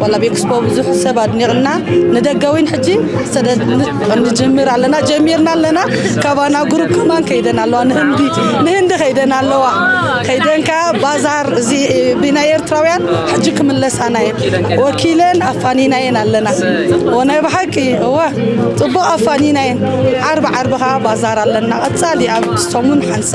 ዋላ ቤክስፖ ብዙሕ ሰብ ኣድኒቕና ንደገ እውን ሕጂ ሰደድ ንጅምር ኣለና ጀሚርና ኣለና ካባና ግሩፕ ከማን ከይደን ኣለዋ ንህንዲ ንህንዲ ከይደን ኣለዋ ከይደን ከዓ ባዛር እዚ ብናይ ኤርትራውያን ሕጂ ክምለሳና እየን ወኪለን ኣፋኒና እየን ኣለና ወናይ ብሓቂ እወ ፅቡቕ ኣፋኒና እየን ዓርቢ ዓርቢ ከዓ ባዛር ኣለና ቀፃሊ ኣብ ሰሙን ሓንሳ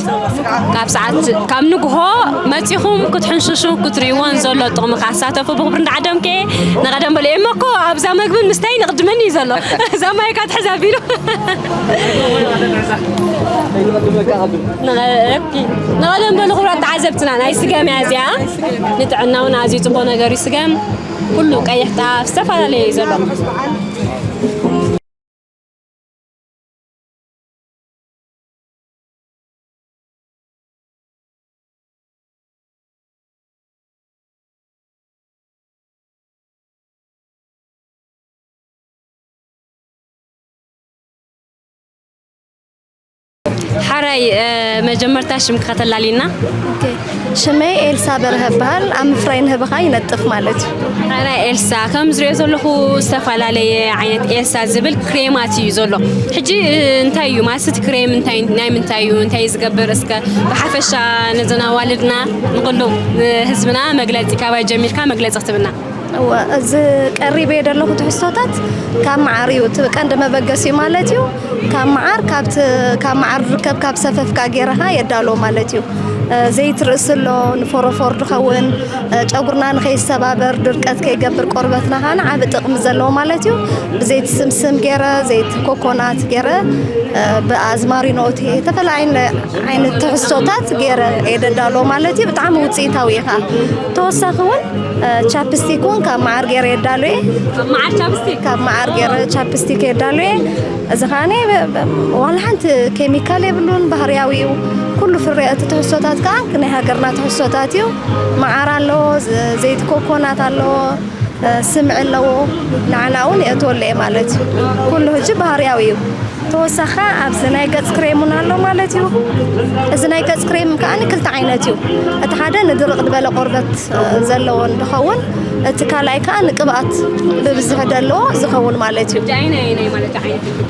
ካብ ሰዓት ካብ ንግሆ መጺኹም ክትሕንሽሹ ክትርእይዎን ዘሎ ጥቕሚ ካሳተፉ ብኽብሪ እንዳዓደምከ ንቐደም በሉ እሞ እኮ ኣብዛ መግብን ምስታይ ንቕድመኒ እዩ ዘሎ እዛ ማይ እካ ትሕዛ ቢሉ ንቐደም በሉ ክብራት ተዓዘብትና ናይ ስገም እያ እዚኣ ንጥዕና እውን ኣዝዩ ፅቡቕ ነገር እዩ ስገም ኩሉ ቀይሕ ጣፍ ዝተፈላለየ እዩ ዘሎ ሓራይ መጀመርታ ሽምካ ከተላልየና ሽመይ ኤልሳ በርሀ እበሃል ኣብ ምፍራይ ንህበኻ ይነጥፍ ማለት እዩ። ኣነ ኤልሳ ከም ዝሪኦ ዘለኹ ዝተፈላለየ ዓይነት ኤልሳ ዝብል ክሬማት እዩ ዘሎ ሕጂ እንታይ እዩ ማለት እቲ ክሬም እንታይ ናይ ምንታይ እዩ እንታይ እዩ ዝገብር እስከ ብሓፈሻ ነዘን ኣዋልድና ንኹሉ ህዝብና መግለፂ ካባይ ጀሚርካ መግለፂ ክትብልና እወ እዚ ቀሪበዮ ዘለኹ ትሕዝቶታት ካብ መዓር እዩ እቲ ቀንዲ መበገሲኡ ማለት እዩ ካብ መዓር ካብቲ ካብ መዓር ዝርከብ ካብ ሰፈፍካ ጌርኻ የዳሎ ማለት እዩ ዘይት ርእሲ ኣሎ ንፎሮፎር ዝኸውን ጨጉርና ንከይሰባበር ድርቀት ከይገብር ቆርበትና ካን ዓብ ጥቕሚ ዘለዎ ማለት እዩ ብዘይቲ ስምስም ገይረ ዘይቲ ኮኮናት ገይረ ብኣዝማሪኖቲ ዝተፈላለዩ ዓይነት ትሕዝቶታት ገይረ የደዳሎ ማለት እዩ ብጣዕሚ ውፅኢታዊ ኢኻ ተወሳኺ እውን ቻፕስቲክ እውን ካብ መዓር ገይረ የዳሉ እየ መዓር ቻፕስቲክ ካብ መዓር ገይረ ቻፕስቲክ የዳሉ እየ እዚ ከዓኒ ዋላ ሓንቲ ኬሚካል የብሉን ባህርያዊ እዩ ኩሉ ፍረ እቲ ትሕዝቶታት ከዓ ናይ ሃገርና ትሕዝቶታት እዩ መዓር ኣለዎ ዘይቲ ኮኮናት ኣለዎ ስም ዕነዎ ንዓና እውን የእትወሉ እየ ማለት እዩ። ኩሉ ህጂ ባህርያዊ እዩ። ተወሳኺ ከኣ ኣብዚ ናይ ገጽ ክሬም እውን ኣሎ ማለት እዩ። እዚ ናይ ገጽ ክሬም ከኣ ክልተ ዓይነት እዩ። እቲ ሓደ ንድርቕ ዝበለ ቆርበት ዘለዎ እንትኸውን እቲ ካልኣይ ከኣ ንቅብኣት ብብዝሒ ደለዎ ዝኸውን ማለት እዩ።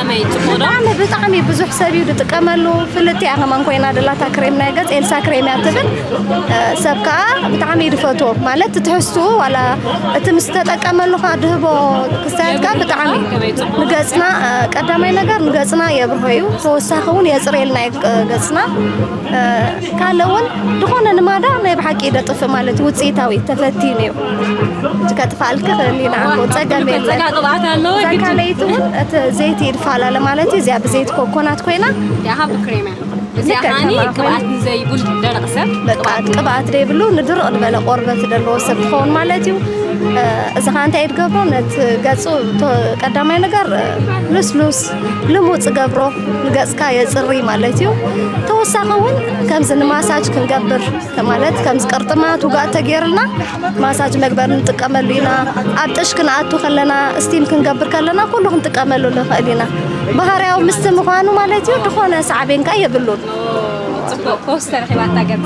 ብጣዕሚ ብጣዕሚ ብዙሕ ሰብ እዩ ዝጥቀመሉ ፍልጥቲ እያ ከማን ኮይና ደላታ ክሬም ናይ ገፅ ኤልሳ ክሬም እያ ትብል ሰብ ከዓ ብጣዕሚ እዩ ዝፈትዎ ማለት ትሕዝትኡ ዋላ እቲ ምስ ተጠቀመሉ ከዓ ድህቦ ክስታያት ከዓ ብጣዕሚ ንገፅና ቀዳማይ ነገር ንገፅና የብርሆ እዩ ተወሳኺ እውን የፅርየልና እዩ ገፅና ካለ እውን ዝኾነ ንማዳ ናይ ብሓቂ ደጥፍእ ማለት እዩ ውፅኢታዊ ተፈቲኑ እዩ እቲ ከጥፋልክ ክእል ኢና ፀገም የለን እዛ ካልኣይቲ እውን እቲ ዘይቲ ይድፋላለ ማለት እዩ እዚኣ ብዘይቲ ኮኮናት ኮይና ቅብኣት ዘይብሉ ንድርቕ ዝበለ ቆርበት ዘለዎ ሰብ ትኸውን ማለት እዩ እዚ ከዓ እንታይ ድገብሮ ነቲ ገፁ ቀዳማይ ነገር ልስሉስ ልሙፅ ገብሮ ንገፅካ የፅሪ ማለት እዩ ተወሳኺ እውን ከምዚ ንማሳጅ ክንገብር ማለት ከምዚ ቅርጥማት ውጋእ ተገይርና ማሳጅ መግበር ንጥቀመሉ ኢና ኣብ ጥሽ ክንኣቱ ከለና ስቲም ክንገብር ከለና ኩሉ ክንጥቀመሉ ንኽእል ኢና ባህርያዊ ምስቲ ምዃኑ ማለት እዩ ዝኾነ ሳዕቤን ከ የብሉን ፅቡቅ ፈውሲ ተረኪባ እታ ገፅ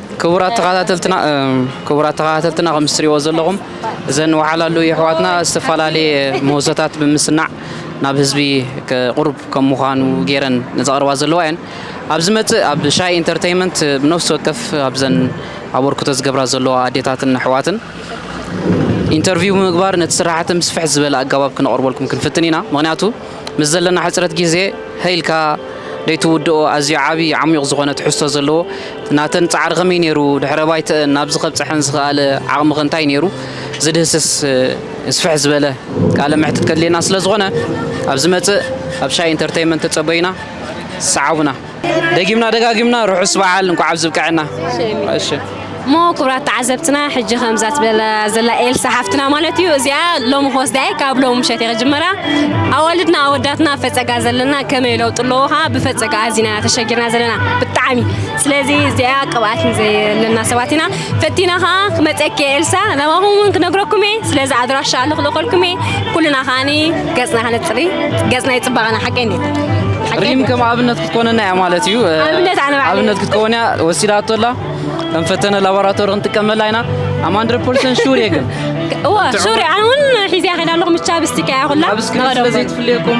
ክቡራት ተኸታተልትና ክቡራት ተኸታተልትና ከምዚ ትሪእዎ ዘለኹም እዘን ወሓላሉ የሕዋትና ዝተፈላለየ ምህዞታት ብምስናዕ ናብ ህዝቢ ቅሩብ ከም ምዃኑ ገይረን ዘቕርባ ዘለዋ እየን ኣብ ዝመፅእ ኣብ ሻይ ኢንተርቴይመንት ብነፍሲ ወከፍ ኣብዘን ኣበርክቶ ዝገብራ ዘለዋ ኣዴታትን ኣሕዋትን ኢንተርቪው ብምግባር ነቲ ስራሕቲ ምስፍሕ ዝበለ ኣገባብ ክነቕርበልኩም ክንፍትን ኢና ምክንያቱ ምስ ዘለና ሕጽረት ግዜ ሀይ ኢልካ ደይትውድኦ ኣዝዩ ዓቢ ዓሚዩቕ ዝኾነ ትሕዝቶ ዘለዎ ናተን ጻዕሪ ከመይ ነይሩ ድሕረ ባይተእን ናብዚ ከብጸሐን ዝኸኣለ ዓቕሚኸ እንታይ ነይሩ ዝድህስስ ስፍሕ ዝበለ ቃለ መሕትት ከድልየና ስለ ዝኾነ ኣብ ዝመጽእ ኣብ ሻይ ኢንተርተይመንት ተጸበዩና ሰዓቡና። ደጊምና ደጋጊምና ርሑስ በዓል እንኳዕ ኣብዚ ብቅዐና። እሞ ክብራት ተዓዘብትና ሕጂ ከምዛ ትበላ ዘላ ኤልሳ ሓፍትና ማለት እዩ እዚኣ ሎሚ ክወስዳ እየ ካብ ሎሚ ምሸት እየ ክጅመራ ኣዋልድና ኣወዳትና ፈፀጋ ዘለና ከመይ ለውጢ ኣለዎ ከዓ ብፈፀጋ ኣዚና ተሸጊርና ዘለና ብጣዕሚ ስለዚ እዚኣ ቅብኣት ዘየለና ሰባት ኢና ፈቲና ከኣ ክመጸኪ እየ ኤልሳ ናባኹም እውን ክነግረኩም እየ ስለዚ ኣድራሻ ልኽልኸልኩም እየ ኩልና ከዓኒ ገጽና ክነጽሪ ገጽና ይጽባቐና ሓቀይ እንዴት ሪም ከም ኣብነት ክትኮነና እያ ማለት እዩ ኣብነት ክትኮን እያ ወሲዳቶ ኣላ ከም ፈተነ ላቦራቶሪ ክንጥቀመላ ኢና ኣም ሃንድረድ ፐርሰንት ሹር እየ ግን እወ ሹር እየ ኣነ እውን ሒዘያ ከይዳ ኣለኹ ምቻ ብስቲካ እያ ኩላ ኣብ ስክሪን ስለዘይትፍልየኩም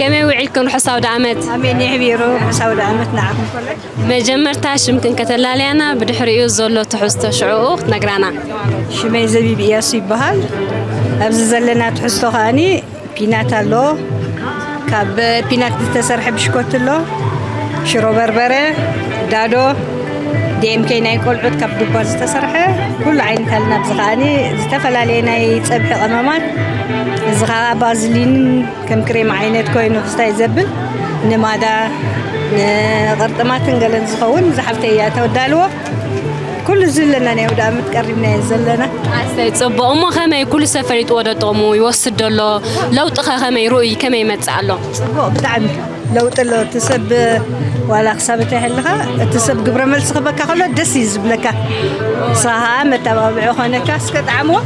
ከመይ ውዒልክን ርሑስ ኣውደኣመት ኣሜን ይሕቢሩ ርሑስ ኣውደኣመት ንዓኹም ኮለ መጀመርታ ሽምክን ከተላልያና ብድሕሪኡ ዘሎ ትሕዝቶ ሽዕኡ ክትነግራና ሽመይ ዘቢብ እያሱ ይበሃል ኣብዚ ዘለና ትሕዝቶ ከዓኒ ፒናት ኣሎ ካብ ፒናት ዝተሰርሐ ብሽኮት ኣሎ ሽሮ በርበረ ዳዶ DMK ናይ ቆልዑት ካብ ዱባ ዝተሰርሐ ኩሉ ዓይነት ኣለና ኣብዚ ከዓኒ ዝተፈላለየ ናይ ፀብሒ ቀመማት እዚ ከዓ ባዝሊን ከም ክሬም ዓይነት ኮይኑ ክስታይ ዘብል ንማዳ ንቅርጥማትን ገለን ዝኸውን ዝሓፍተይ እያ ተወዳልዎ ኩሉ እዚ ኣለና ናይ ወደ ዓመት ቀሪብና እየ ዘለና ኣሰይ ፅቡቕ እሞ ከመይ ኩሉ ሰብ ፈሊጥዎ ዶ ጥቕሙ ይወስድ ዶ ኣሎ ለውጢ ከ ከመይ ርኡይ ከመይ ይመፅእ ኣሎ ፅቡቕ ብጣዕሚ ለውጢ ኣሎ እቲ ሰብ ዋላ ክሳብ እንተይሃለኻ እቲ ሰብ ግብረ መልሲ ክበካ ከሎ ደስ እዩ ዝብለካ ንስኻ ከዓ መተባብዒ ኾነካ እስከ ጣዕምዎ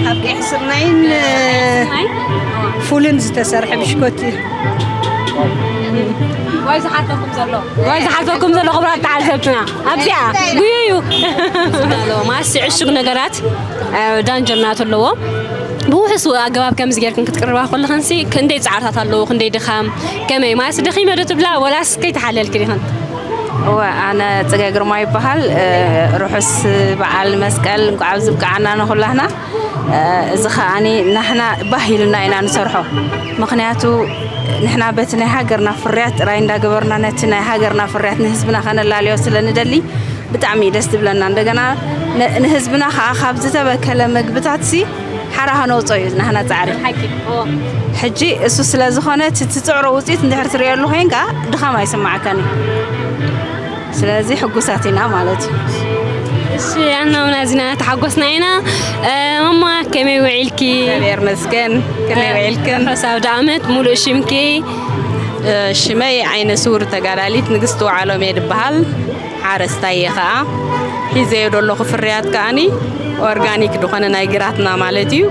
ካብ ቀይሕ ስርናይን ፉልን ዝተሰርሐ ብሽኮት እዩ ዋይ ዝሓተኩም ዘሎ ዋይ ዝሓተኩም ዘሎ ክብራት ተዓዘብትና ኣብዚኣ ጉዩ እዩ ማስ ዕሹግ ነገራት ዳንጀር ናቱ ኣለዎ ብውሑስ ኣገባብ ከምዚ ጌርክን ክትቅርባ ከለኽንሲ ክንደይ ጻዕርታት ኣለዎ ክንደይ ድኻም ከመይ ማለት ደኺመ ዶ ትብላ ወላስ ከይተሓለልክን ኢኽን እወ ኣነ ጽገ ግርማ ይበሃል ርሑስ በዓል መስቀል እንኳዕ ኣብዚ ብቃዓና ንኹላህና እዚ ከዓኒ ናሕና ባህ ኢሉና ኢና ንሰርሖ ምክንያቱ ንሕና በቲ ናይ ሃገርና ፍርያት ጥራይ እንዳገበርና ነቲ ናይ ሃገርና ፍርያት ንህዝብና ከነላልዮ ስለ ንደሊ ብጣዕሚ ደስ ትብለና እንደገና ንህዝብና ከኣ ካብ ዝተበከለ ምግብታት ሲ ሓራ ከነውፅኦ እዩ ናህና ፃዕሪ ሕጂ እሱ ስለ ዝኾነ እቲ ትፅዕሮ ውፅኢት እንድሕር ትሪእየሉ ኮይንካ ድኻም ኣይስማዓካን እዩ ስለዚ ሕጉሳት ኢና ማለት እዩ እሺ ኣና ውን ኣዝና ተሓጎስና ኢና ማማ ከመይ ውዒልኪ እግዚኣብሔር መስገን ከመይ ውዒልክን ሕሳብ ዳኣመት ሙሉእ ሽምኪ ሽመይ ዓይነ ስውር ተጋዳሊት ንግስቲ ውዓሎም እየ ድበሃል ሓረስታይ እየ ከኣ ሒዘዮ ደለኹ ፍርያት ከኣኒ ኦርጋኒክ ድኾነ ናይ ግራትና ማለት እዩ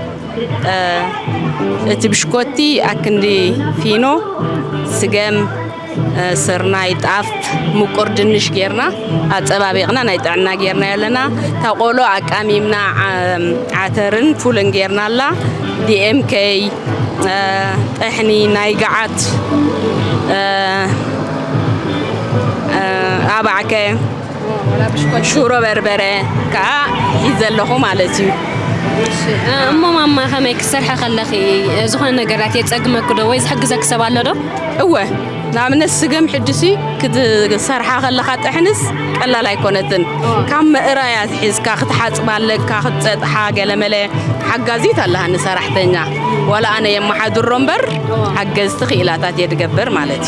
እቲ ብሽኮቲ ኣክንዲ ፊኖ ስገም ስርናይ ጣፍ ምቁር ድንሽ ጌርና ኣፀባቢቕና ናይ ጥዕና ጌርና ኣለና እታ ቆሎ ኣቃሚምና ዓተርን ፉልን ጌርና ኣላ ዲኤምከይ ጥሕኒ ናይ ገዓት ኣባዕከ ሽሮ በርበረ ከዓ ሒዘ ኣለኹ ማለት እዩ እሞ ማማ ከመይ ክትሰርሐ ከለኺ ዝኾነ ነገራት የፀግመኪ ዶ ወይ ዝሕግዘኪ ሰብ ኣሎ ዶ እወ ንኣብነት ስገም ሕድሲ ክትሰርሓ ከለካ ጥሕንስ ቀላል ኣይኮነትን ካብ ምእራያ ትሒዝካ ክትሓፅባ ኣለካ ክትፀጥሓ ገለመለ ሓጋዚት ኣለሃኒ ሰራሕተኛ ዋላ ኣነ የመሓድሮ እምበር ሓገዝቲ ክኢላታት እየ ድገብር ማለት እዩ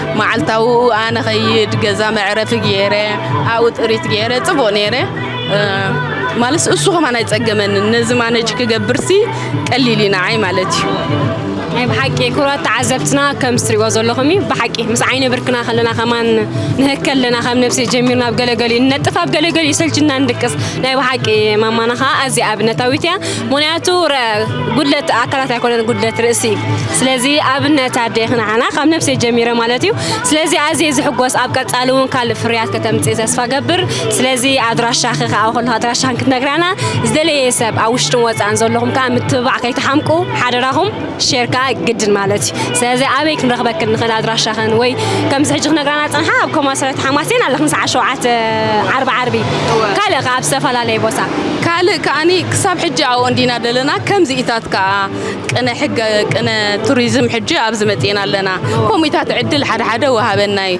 መዓልታዊ ኣነ ኸይድ ገዛ መዕረፊ ገይረ ኣብኡ ጥሪት ገይረ ፅቡቕ ነይረ ማለት እሱ ከማን ኣይፀገመንን ነዚ ማነጅ ክገብርሲ ቀሊል ኢና ዓይ ማለት እዩ ናይ ብሓቂ ክብራት ተዓዘብትና ከም ዝትሪእዎ ዘለኹም እዩ ብሓቂ ምስ ዓይነ ብርክና ከለና ከማን ንህከ ኣለና ካብ ነብሲ ጀሚርና ኣብ ገለገሊ ንነጥፍ ኣብ ገለገሊ ይሰልችና ንድቅስ ናይ ብሓቂ ማማና ከዓ ኣዝያ ኣብነታዊት እያ ምክንያቱ ጉድለት ኣካላት ኣይኮነን ጉድለት ርእሲ እዩ ስለዚ ኣብነት ኣደ ክንዓና ካብ ነብሰይ ጀሚረ ማለት እዩ ስለዚ ኣዝየ ዝሕጎስ ኣብ ቀፃሊ እውን ካልእ ፍርያት ከተምፅኢ ተስፋ ገብር ስለዚ ኣድራሻኺ ከዓ ከለኹ ኣድራሻን ክትነግራና ዝደለየ ሰብ ኣብ ውሽጥን ወፃእን ዘለኹም ከዓ ምትብባዕ ከይትሓምቁ ሓደራኹም ሼር ከዓ ግድን ማለት እዩ ስለዚ ኣበይ ክንረኽበክን ንኽእል ኣድራሻኽን ወይ ከምዚ ሕጂ ክነግራና ፀንሓ ኣብ ኮማ ሰረት ሓማሴን ኣለኽን ሰዓት ሸውዓተ ዓርቢ ዓርቢ ካልእ ከዓ ኣብ ዝተፈላለየ ቦታ ካልእ ከዓኒ ክሳብ ሕጂ ኣብኡ እንዲና ዘለና ከምዚኢታት ከዓ ቅነ ሕገ ቅነ ቱሪዝም ሕጂ ኣብዚ መፂእና ኣለና ኮሚታት ዕድል ሓደ ሓደ ወሃበናይ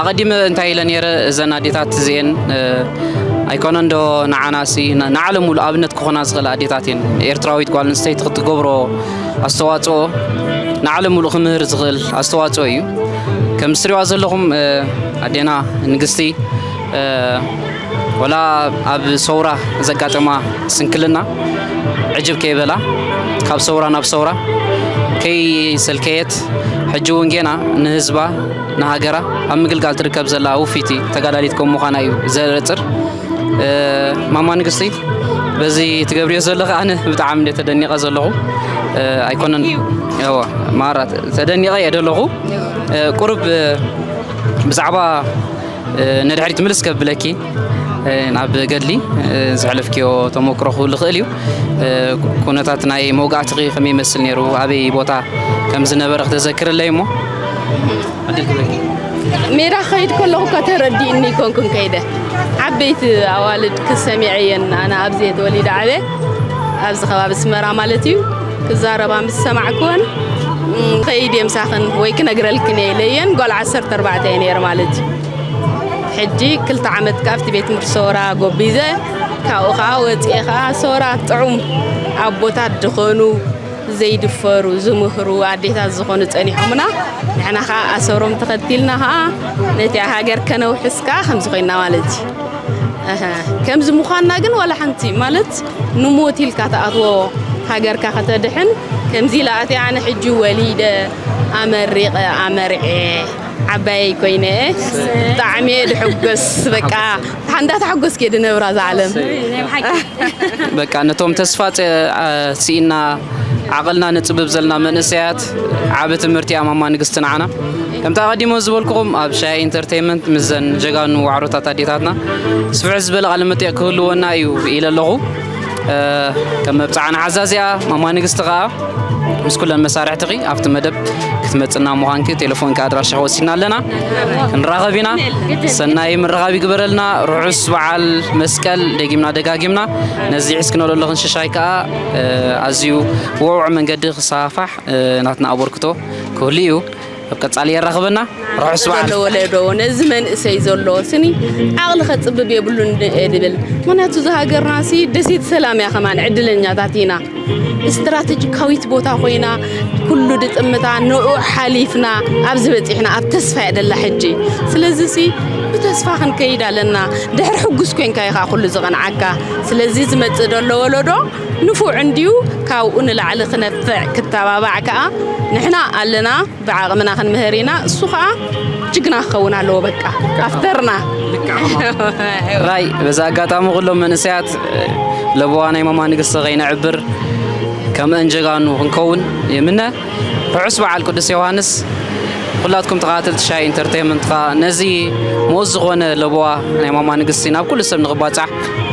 ኣቐዲመ እንታይ ኢለ ነይረ እዘን ኣዴታት እዚኤን ኣይኮነን ዶ ንዓናሲ ንዓለም ሙሉ ኣብነት ክኾና ዝኽእላ ኣዴታት እየን ኤርትራዊት ጓል ኣንስተይቲ ክትገብሮ ኣስተዋፅኦ ንዓለም ሙሉ ክምህር ዝኽእል ኣስተዋፅኦ እዩ ከም ዝትሪዋ ዘለኹም ኣዴና ንግስቲ ወላ ኣብ ሰውራ ዘጋጠማ ስንክልና ዕጅብ ከይበላ ካብ ሰውራ ናብ ሰውራ ከይሰልከየት ሕጂ እውን ጌና ንህዝባ ንሃገራ ኣብ ምግልጋል ትርከብ ዘላ ውፊቲ ተጋዳሊት ከም ምዃና እዩ ዘረፅር ማማ ንግስቲ በዚ ትገብርዮ ዘለኺ ኣነ ብጣዕሚ እንደ ተደኒቐ ዘለኹ ኣይኮነን ዋ ማራት ተደኒቐ እየ ደለኹ ቁርብ ብዛዕባ ንድሕሪት ምልስ ከብለኪ ናብ ገድሊ ዘሕለፍክዮ ተሞክሮ ክህሉ ይኽእል እዩ ኩነታት ናይ መውጋእትኺ ከመይ ይመስል ነይሩ ኣበይ ቦታ ከም ዝነበረ ክተዘክርለይ እሞ ሜዳ ክኸይድ ከለኹ ከተረዲእኒ ኮንኩን ከይደ ዓበይቲ ኣዋልድ ክሰሚዐ እየን ኣነ ኣብዚ ተወሊደ ዓበ ኣብዚ ከባቢ ስመራ ማለት እዩ ክዛረባ ምስ ሰማዕክወን ከይድ እየ ምሳኽን ወይ ክነግረልክን እየ ኢለየን ጓል ዓሰርተ ኣርባዕተ እየ ነይረ ማለት እዩ ሕጂ ክልተ ዓመት ካብቲ ቤት ትምህርቲ ሰውራ ጎቢዘ ካብኡ ከዓ ወፅኤ ከዓ ሰውራ ጥዑም ኣቦታት ድኾኑ ዘይድፈሩ ዝምህሩ ኣዴታት ዝኾኑ ጸኒሖምና ንሕና ከዓ ኣሰሮም ተኸቲልና ከዓ ነቲ ሃገር ከነውሕስ ከዓ ከምዚ ኮይና ማለት እዩ ከምዚ ምዃንና ግን ዋላ ሓንቲ ማለት ንሞት ኢልካ ተኣትዎ ሃገርካ ከተድሕን ከምዚ ኢላ ኣነ ሕጂ ወሊደ ኣመሪቐ ኣመርዔ ዓባየይ ኮይነ ብጣዕሚ እየ ድሕጎስ በቃ ሓንዳ ተሓጎስክ እየ ድነብራ እዛ ዓለም በቃ ነቶም ተስፋ ስኢና ዓቕልና ንጽብብ ዘለና መንእሰያት ዓቢ ትምህርቲ እያ ማማ ንግስቲ ንዓና ከምቲ ኣቐዲሞ ዝበልኩኹም ኣብ ሻያ ኢንተርቴንመንት ምስዘን ጀጋኑ ዋዕሮታት ኣዴታትና ስፍሕ ዝበለ ቃለ መጠየቕ ክህልወና እዩ ኢለ ኣለኹ ከም መብጽዓን ዓዛዚኣ ማማ ንግስቲ ከኣ ምስ ኩለን መሳርሕትኺ ኣብቲ መደብ ክትመጽና ምዃንኪ ቴሌፎንኪ ኣድራሻኺ ወሲድና ኣለና ክንራኸብ ኢና ሰናይ ምርኻብ ይግበረልና ርሑስ በዓል መስቀል ደጊምና ደጋጊምና ነዚ ሒዝክነሎ ኣለኽን ሽሻይ ከኣ ኣዝዩ ብውዕውዕ መንገዲ ክሰፋሕ ናትና ኣበርክቶ ክህሉ እዩ ኣብ ቀጻሊ የራኽበና ርሑስ በዓል። ዘሎ ወለዶ ነዚ መንእሰይ ዘሎ ስኒ ዓቕሊ ከጽብብ የብሉን እየ ዝብል ምክንያቱ እዛ ሃገርና ሲ ደሴት ሰላም እያ ከማን ዕድለኛታት ኢና ስትራተጂካዊት ቦታ ኮይና ኩሉ ድጥምታ ንዑ ሓሊፍና ኣብዚ በጺሕና ኣብ ተስፋ እያ ደላ ሕጂ ስለዚ ሲ ብተስፋ ክንከይድ ኣለና ድሕሪ ሕጉስ ኮንካ ኢኻ ኩሉ ዝቐንዓካ ስለዚ ዝመጽእ ዘሎ ወለዶ ንፉዕ እንድዩ ካብኡ ንላዕሊ ክነፍዕ ክተባባዕ ከኣ ንሕና ኣለና ብዓቅምና ክንምህር ኢና እሱ ከኣ ጅግና ክከውን ኣለዎ በቃ ኣፍተርና። ሕራይ በዚ ኣጋጣሚ ኩሎም መንእሰያት ለበዋ ናይ ማማ ንግስቲ ከይነዕብር ከምኣን ጀጋኑ ክንከውን ይምነ። ርሑስ በዓል ቅዱስ ዮውሃንስ ኩላትኩም ተኸታተልቲ ሻይ ኢንተርቴይንመንት ከኣ ነዚ ምኡዝ ዝኾነ ለበዋ ናይ ማማ ንግስቲ ናብ ኩሉ ሰብ ንኽባጻሕ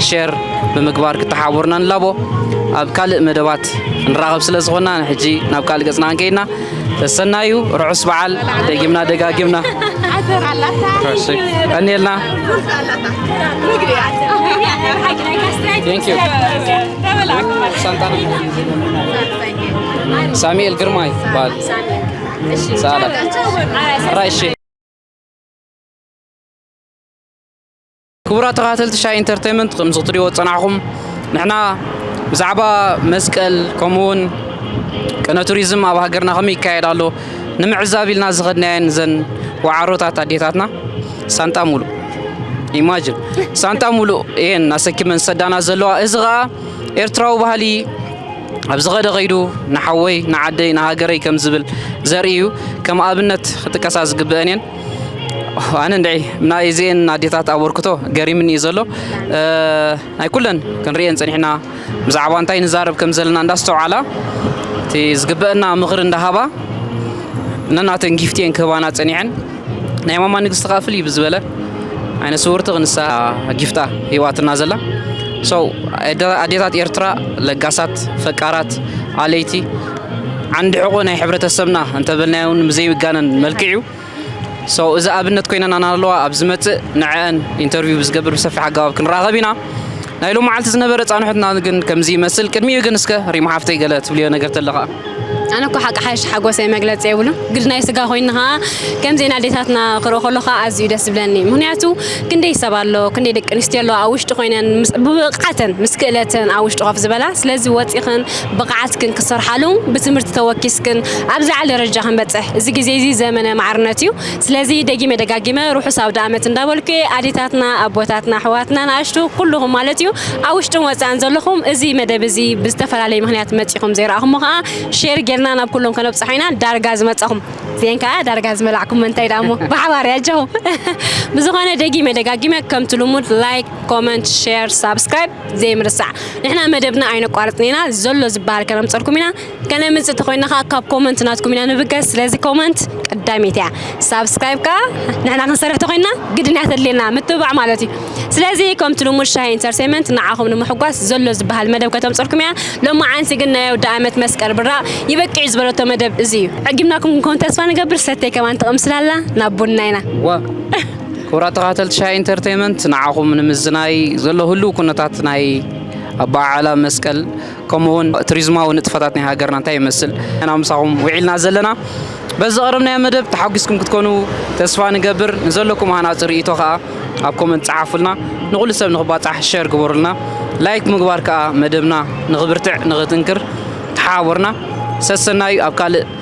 ሼር ብምግባር ክተሓባበሩና ንላቦ ኣብ ካልእ መደባት ንራኸብ ስለ ዝኾና ንሕጂ ናብ ካልእ ገጽና ክንከይድና ተሰናዩ ርሑስ በዓል ደጊምና ደጋጊምና ቀኒልና Thank you. ሳሙኤል ግርማ ይባል ሳላ ራይሽ ክቡራት ተኸታተልቲ ሻይ ኢንተርቴንመንት ከምዚ ክትሪእዎ ዝፀናሕኹም ንሕና ብዛዕባ መስቀል ከምኡውን ቅነ ቱሪዝም ኣብ ሃገርና ከመይ ይካየድ ኣሎ ንምዕዛብ ኢልና ዝኸድናየን ዘን ወዓሮታት ኣዴታትና ሳንጣ ሙሉእ ኢማጅን ሳንጣ ሙሉእ እየን ኣሰኪመን ዝሰዳና ዘለዋ እዚ ከዓ ኤርትራዊ ባህሊ ኣብ ዝኸደ ኸይዱ ንሓወይ ንዓደይ ንሃገረይ ከም ዝብል ዘርኢ እዩ ከም ኣብነት ክጥቀሳ ዝግብአን እየን ኣነ እንድዒ ናይ እዚአን ኣዴታት ኣበርክቶ ገሪምኒ እዩ ዘሎ ናይ ኩለን ክንሪኤን ፀኒሕና ብዛዕባ እንታይ ንዛረብ ከም ዘለና እንዳስተውዓላ እቲ ዝግበአና ምኽሪ እንዳሃባ ነናተን ጊፍቲ እየን ክህባና ፀኒዐን ናይ ማማ ንግስቲ ከኣ ፍልይ ብዝበለ ዓይነ ስውርቲ ክንሳ ጊፍታ ሂዋትና ዘላ ሰው ኣዴታት ኤርትራ ለጋሳት ፈቃራት ኣለይቲ ዓንዲ ሕቆ ናይ ሕብረተሰብና እንተበልናዮ እውን ብዘይጋነን መልክዕ እዩ ሰው እዚ ኣብነት ኮይነና ኣለዋ ኣብ ዝመፅእ ንዐአን ኢንተርቪው ብዝገብር ብሰፊሕ ኣገባብ ክንራኸብ ኢና ናይ ሎም መዓልቲ ዝነበረ ፃንሑትና ግን ከምዚ ይመስል ቅድሚኡ ግን እስከ ሪማ ሓፍተይ ገለ ትብልዮ ነገር ተለኻ ኣነ እኮ ሓቂ ሓሽ ሓጎሰይ መግለጺ የብሉን ግድ ናይ ስጋ ኮይኑ ከኣ ከምዚ ናዴታትና ክርኢ ከሎ ከኣ ኣዝዩ ደስ ዝብለኒ ምክንያቱ ክንደይ ሰብ ኣሎ ክንደይ ደቂ ኣንስትዮ ኣለዋ ኣብ ውሽጢ ኮይነን ብብቕዓተን ምስ ክእለተን ኣብ ውሽጢ ኮፍ ዝበላ ስለዚ ወጺኽን ብቕዓትክን ክሰርሓሉ ብትምህርቲ ተወኪስክን ኣብ ዝለዓለ ደረጃ ክንበጽሕ እዚ ግዜ እዚ ዘመነ ማዕርነት እዩ ስለዚ ደጊመ ደጋጊመ ርሑስ ኣውደኣመት እንዳበልኩ'የ ኣዴታትና ኣቦታትና ኣሕዋትና ንኣሽቱ ኩሉኹም ማለት'ዩ ኣብ ውሽጥን ወጻእን ዘለኹም እዚ መደብ እዚ ብዝተፈላለየ ምኽንያት መጺኹም ዘይረኣኹሞ ከኣ ሼር ጌርና ናብ ኩሎም ከነብጽሖ ኢና ዳርጋ ዝመጻኹም እዚኤን ከኣ ዳርጋ ዝመላዕኩመን እንታይ ደኣ እሞ ብሓባር'የ ኣጀኹም ብዝኾነ ደጊመ ደጋጊመ ከምቲ ልሙድ ላይክ ኮመንት ሼር ሳብስክራይብ ዘይምርሳዕ ንሕና መደብና ኣይነቋርጽን ኢና ዘሎ ዝበሃል ከነምጸልኩም ኢና ከመይ ምጽእ ተኮይና ከኣ ካብ ኮመንት ናትኩም ኢና ንብገስ ስለዚ ኮመንት ቀዳመይቲ እያ ሳብስክራይብ ከኣ ንሕና ክንሰርሕ ተኮይና ግድን እያ ተድልየና ምትብባዕ ማለት እዩ ስለዚ ከምቲ ልሙድ ሻሂ ኢንተርቴንመንት ንዓኹም ንምሕጓስ ዘሎ ዝበሃል መደብ ከተምጽልኩም እያ ሎማዓንቲ ግን ናይ ኣውደኣመት መስቀል ብራቅ ይበቅዕ እዩ ዝበለቶ መደብ እዚ እዩ ዕጊምናኩም ክንከውን ተስፋ ንገብር ሰተይ ከማን ትቕምስላ ኣላ ናብ ቡና ኢና ዋ ክቡራት ተኸታተልቲ ሻሂ ኢንተርቴንመንት ንዓኹም ንምዝናይ ዘሎ ህሉው ኩነታት ናይ ኣበዓዕላ መስቀል ከምኡ ውን ትሪዝማዊ ንጥፈታት ናይ ሃገርና እንታይ ይመስል ኢና ምሳኹም ዊዒልና ዘለና። በዚ ዘቕረብናዮ መደብ ተሓጒስኩም ክትኮኑ ተስፋ ንገብር። ንዘለኩም ሃናጺ ርእይቶ ከኣ ኣብ ኮመንት ጸሓፉልና። ንኹሉ ሰብ ንኽባጻሕ ሸር ግበሩልና። ላይክ ብምግባር ከኣ መደብና ንኽብርትዕ ንኽጥንክር ተሓባበሩና። ሰሰናዩ ኣብ ካልእ